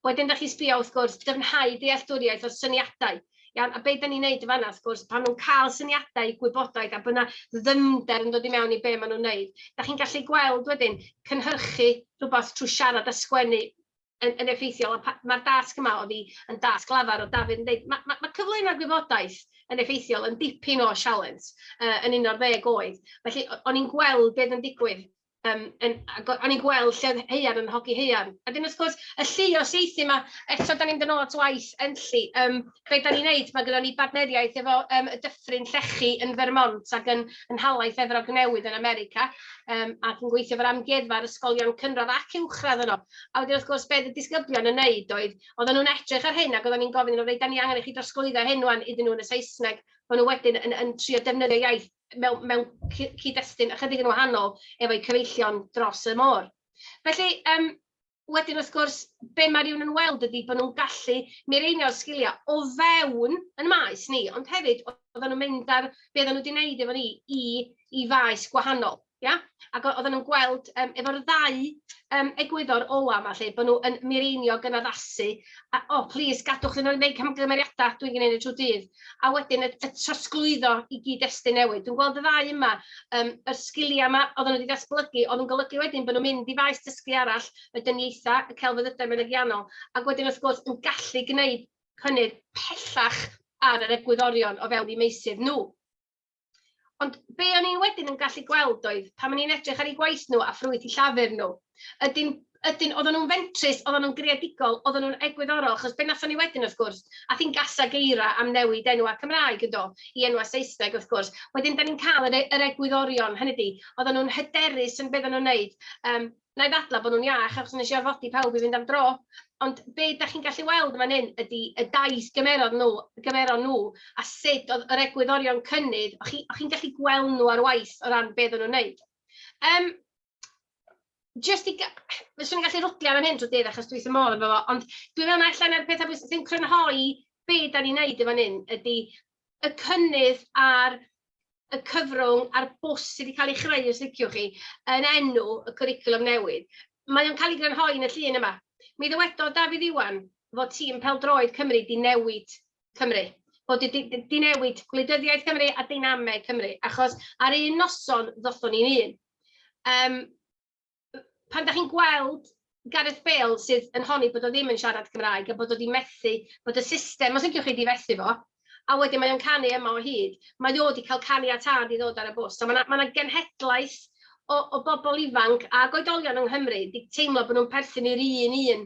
Wedyn, da chi'n sbio, wrth gwrs, dyfnhau dealltwriaeth o'r syniadau. Iawn, a beth da ni'n neud y fanna, wrth gwrs, pan nhw'n cael syniadau, gwybodaeth, a byna ddyfnder yn dod i mewn i be maen nhw'n neud, da chi'n gallu gweld wedyn cynhyrchu rhywbeth trwy siarad a sgwennu yn, yn effeithiol, a mae'r dasg yma o fi yn dasg lafar o Dafydd yn dweud, mae ma, ma cyflwyno gwybodaeth yn effeithiol yn dipyn o sialens uh, yn un o'r ddeg oed. Felly, o'n i'n gweld beth yn digwydd yym yn ago- o'n i'n gweld lle oedd haearn yn hogi haearn. A wedyn wrth gwrs, y lluo saethu 'ma, eto dan ni'n mynd yn ôl at waith Enlli. Yym be dan ni'n wneud, mae gyda ni bartneriaeth efo yym y Dyffryn Llechi yn Vermont ac yn yn nhalaith Efrog Newydd yn America, yym ac yn gweithio efo'r amgueddfa a'r ysgolion cynradd ac uwchradd yno. A wedyn wrth gwrs, be oedd y disgyblion yn wneud oedd, oedden nhw'n edrych ar hyn ac oedden ni'n gofyn iddyn nhw, 'reit, dan ni angen i chi drosglwyddo hyn ŵan iddyn nhw yn y Saesneg, maen nhw wedyn yn yn trio defnyddio iaith mewn mewn cy- cyd-destun ychydig yn wahanol efo'u cyfeillion dros y môr. Felly, yym, wedyn wrth gwrs, be mae rhywun yn weld ydy bod nhw'n gallu mireinio'r sgiliau o fewn yn maes ni, ond hefyd oedden nhw'n mynd ar be oedden nhw wedi wneud efo ni i i faes gwahanol. Ia? Ac o- oedden nhw'n gweld yym efo'r ddau yym egwyddor ola' 'ma 'lly, bo' nw yn mireinio'g yn addasu a o plîs gadwch iddyn nhw neud camgymeriadau, dwi'n gneud e trw'r dydd, a wedyn y y trosglwyddo i gyd-destun newydd. Dwi'n gweld y ddau yma, yym y sgiliau 'ma oedden nhw 'di ddatblygu, oedd yn golygu wedyn bo' nhw'n mynd i faes dysgu arall, y dyniaetha, y celfyddydau mynegiannol, ac wedyn wrth gwrs yn gallu gneud cynnydd pellach ar yr egwyddorion o fewn eu meysydd nhw. Ond be o'n i'n wedyn yn gallu gweld oedd, pan o'n i'n edrych ar eu gwaith nhw a ffrwyth i llafur nhw, ydyn, ydyn, oedden nhw'n fentrus, oedden nhw'n greadigol, oedden nhw'n egwyddorol, achos be nathon ni wedyn wrth gwrs, a thi'n gasa geira am newid enwau Cymraeg yn do, i enwau Saesneg wrth gwrs, wedyn da ni'n cael yr, e, yr egwyddorion, hynny di, oedden nhw'n hyderus yn beth nhw'n wneud, um, wna i ddadlau bod nhw'n iach achos wnes i orfodi pawb i fynd am dro. Ond be da chi'n gallu weld yn fan hyn ydy y daith gymerodd nhw, gymeron nhw, a sut oedd yr egwyddorion cynnydd, o'ch chi, chi gallu gweld nhw ar waith o ran beth o'n nhw'n wneud. Um, just i... Fyswn i'n gallu rwdlio am hyn drwy dydd achos dwi'n ymol efo fo, ond dwi'n meddwl na allan o'r pethau bwysig sy'n crynhoi be da ni'n wneud efo hyn ydy y cynnydd ar y cyfrwng a'r bws sydd wedi cael ei chreu, os liciwch chi, yn enw y cwricwlwm newydd. Mae o'n cael ei grynhoi yn y llun yma. Mi ddywedodd Dafydd Iwan fod tîm peldroed Cymru di newid Cymru, bod di, di, di newid gwleidyddiaeth Cymru a deinameg Cymru, achos ar un noson ddothon ni'n un. Um, pan dach chi'n gweld Gareth Bale sydd yn honni bod o ddim yn siarad Cymraeg a bod o 'di methu, bod y system, os liciwch chi, 'di fethu fo, a wedyn mae o'n canu yma o hyd, mae o 'di cael caniatâd i ddod ar y bws. So mae 'na, mae 'na genhedlaeth o, o bobl ifanc ac oedolion yng Nghymru 'di teimlo bod nhw'n perthyn i'r un un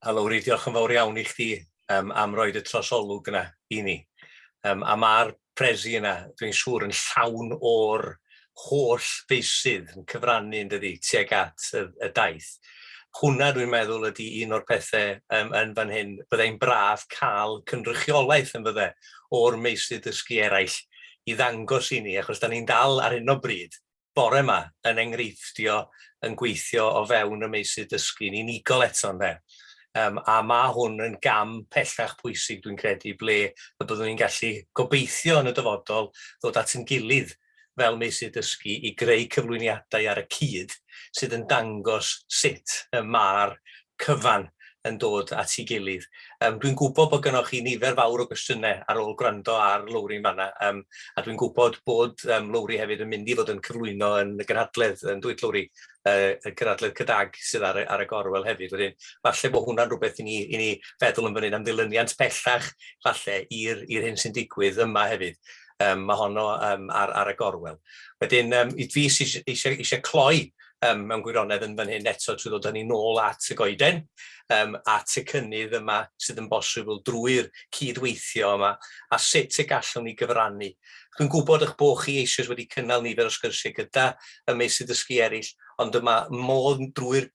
A Lowri, diolch yn fawr iawn i chdi um, am roed y trosolwg yna i ni. Um, a mae'r presi yna, dwi'n siŵr, yn llawn o'r holl feisydd yn cyfrannu yn dydi tuag at y, y daith. Hwna, dwi'n meddwl, ydy un o'r pethau um, yn fan hyn. Byddai'n braf cael cynrychiolaeth yn fydde o'r meisydd dysgu eraill i ddangos i ni, achos da ni'n dal ar hyn o bryd bore yma yn enghreiffdio yn gweithio o fewn y meysydd dysgu'n unigol eto ynde. Um, a mae hwn yn gam pellach pwysig dwi'n credu ble y byddwn ni'n gallu gobeithio yn y dyfodol ddod at yn gilydd fel meysydd dysgu i greu cyflwyniadau ar y cyd sydd yn dangos sut y mae'r cyfan yn dod at ei gilydd. Yym dwi'n gwybod bod gennych chi nifer fawr o gwestiynau ar ôl gwrando ar Lowri yn fanna, yym a dwi'n gwybod bod yym Lowri hefyd yn mynd i fod yn cyflwyno yn y gynhadledd yn dwyt Lowri, yy y gynhadledd CDAG sydd ar y ar y gorwel hefyd wedyn. Falle bod hwnna'n rhywbeth i ni i ni feddwl yn fan hyn am ddilyniant pellach falle i'r i'r hyn sy'n digwydd yma hefyd. Yym ma' honno yym ar ar y gorwel. Wedyn yym i fi sy eisiau eisiau cloi um, mewn gwirionedd yn fan hyn eto trwy ddod â ni nôl at y goeden, um, at y cynnydd yma sydd yn bosibl drwy'r cydweithio yma, a sut y gallwn ni gyfrannu. Dwi'n gwybod eich bod chi eisoes wedi cynnal nifer o sgyrsiau gyda y meysydd dysgu eraill, ond dyma modd drwy'r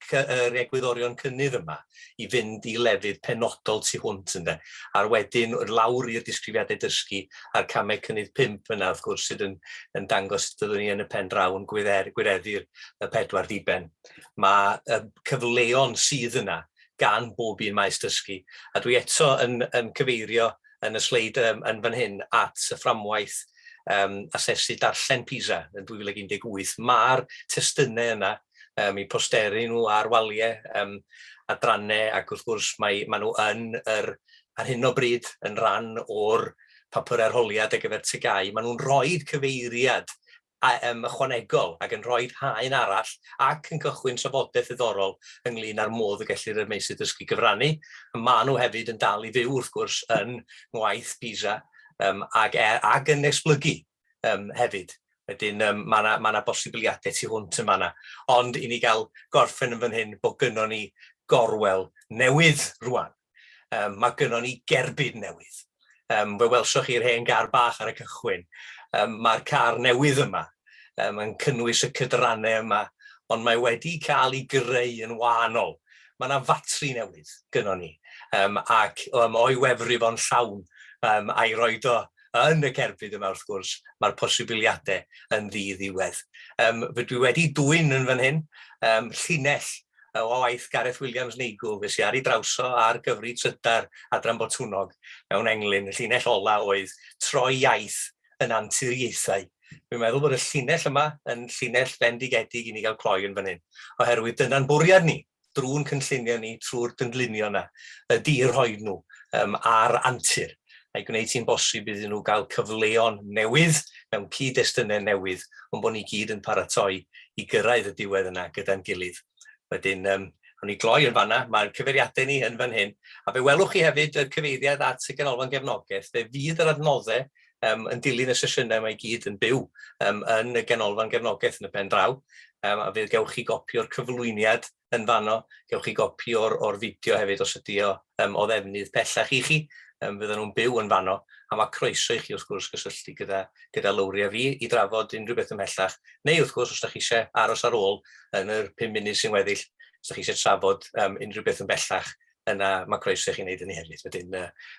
egwyddorion cynnydd yma, i fynd i lefydd penodol tu hwnt ynde, a'r wedyn lawr i'r disgrifiadau dysgu a'r camau cynnydd pump yna wrth gwrs sydd yn yn dangos sut byddwn ni yn y pen draw yn gwydder, gwireddu'r y pedwar diben. Mae y cyfleon sydd yna gan bob un maes dysgu. A dwi eto yn, yn cyfeirio yn y sleid um, yn fan hyn at y fframwaith um, asesu darllen PISA yn 2018. Mae'r testunau yna um, i posteri nhw ar waliau, um, adrannau, ac wrth gwrs mae, mae nhw yn yr, ar hyn o bryd yn rhan o'r papur arholiad ar gyfer tygau. Mae nhw'n rhoi cyfeiriad a, um, ychwanegol ac yn rhoi haen arall ac yn cychwyn trafodaeth ddiddorol ynglyn â'r modd y gellir y meysydd dysgu gyfrannu. Mae nhw hefyd yn dal i fyw wrth gwrs yn ngwaith PISA um, ac, e, ac yn esblygu yym hefyd. Wedyn yym ma' 'na ma' 'na bosibiliadau tu hwnt yn fan'na. Ond i ni gael gorffen yn fan hyn bod gynnon ni gorwel newydd rŵan. Yym ma' gynnon ni gerbyd newydd. Yym fe welsoch chi'r hen gar bach ar y cychwyn. Yym ma'r car newydd yma yym yn cynnwys y cydrannau yma, ond mae wedi cael ei greu yn wahanol. Mae 'na fatri newydd gynnon ni, yym ac yym o'i wefru fo'n llawn yym a'i roid o yn y cerbyd yma wrth gwrs, mae'r posibiliadau yn ddi-ddiwedd. Um, dwi wedi dwy'n yn fan hyn, um, llinell o waith Gareth Williams Neigw, fe sy'n ar ei drawso ar gyfri trydar Adran Botwnog mewn englyn. Y llinell ola oedd troi iaith yn anturiaethau. Dwi'n meddwl bod y llinell yma yn llinell fendigedig i ni gael cloi yn fan hyn, oherwydd dyna'n bwriad ni. drwy'n cynllunio ni, trwy'r gynllunio yna, ydy i rhoi nhw um, ar antur a'i gwneud hi'n bosib iddyn nhw gael cyfleon newydd mewn cyd-destunau newydd, ond bod ni gyd yn paratoi i gyrraedd y diwedd yna gyda'n gilydd. Wedyn, um, Rwy'n ni gloi yn fanna, mae'r cyfeiriadau ni yn fan hyn. A fe welwch chi hefyd y cyfeiriad at y ganolfan gefnogaeth, fe fydd yr adnoddau um, yn dilyn y sesiynau mae i gyd yn byw um, yn y Ganolfan Gefnogaeth yn y pen draw, um, a fydd gewch chi gopi o'r cyflwyniad yn fanno, gewch chi gopi o'r, or fideo hefyd os ydy o um, o ddefnydd pellach i chi, um, fydden nhw'n byw yn fanno, a mae croeso i chi wrth gwrs gysylltu gyda, gyda Lowri a fi i drafod unrhyw beth ymhellach, neu wrth gwrs os ydych chi eisiau aros ar ôl yn yr 5 munud sy'n weddill, os ydych chi eisiau trafod um, unrhyw beth ymhellach yna mae croeso i chi wneud hynny hefyd. Wedyn,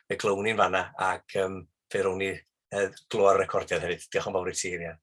fe glown ni'n fanna ac fe rown ni glywed y recordiad hefyd. Diolch yn fawr i ti, Rhian.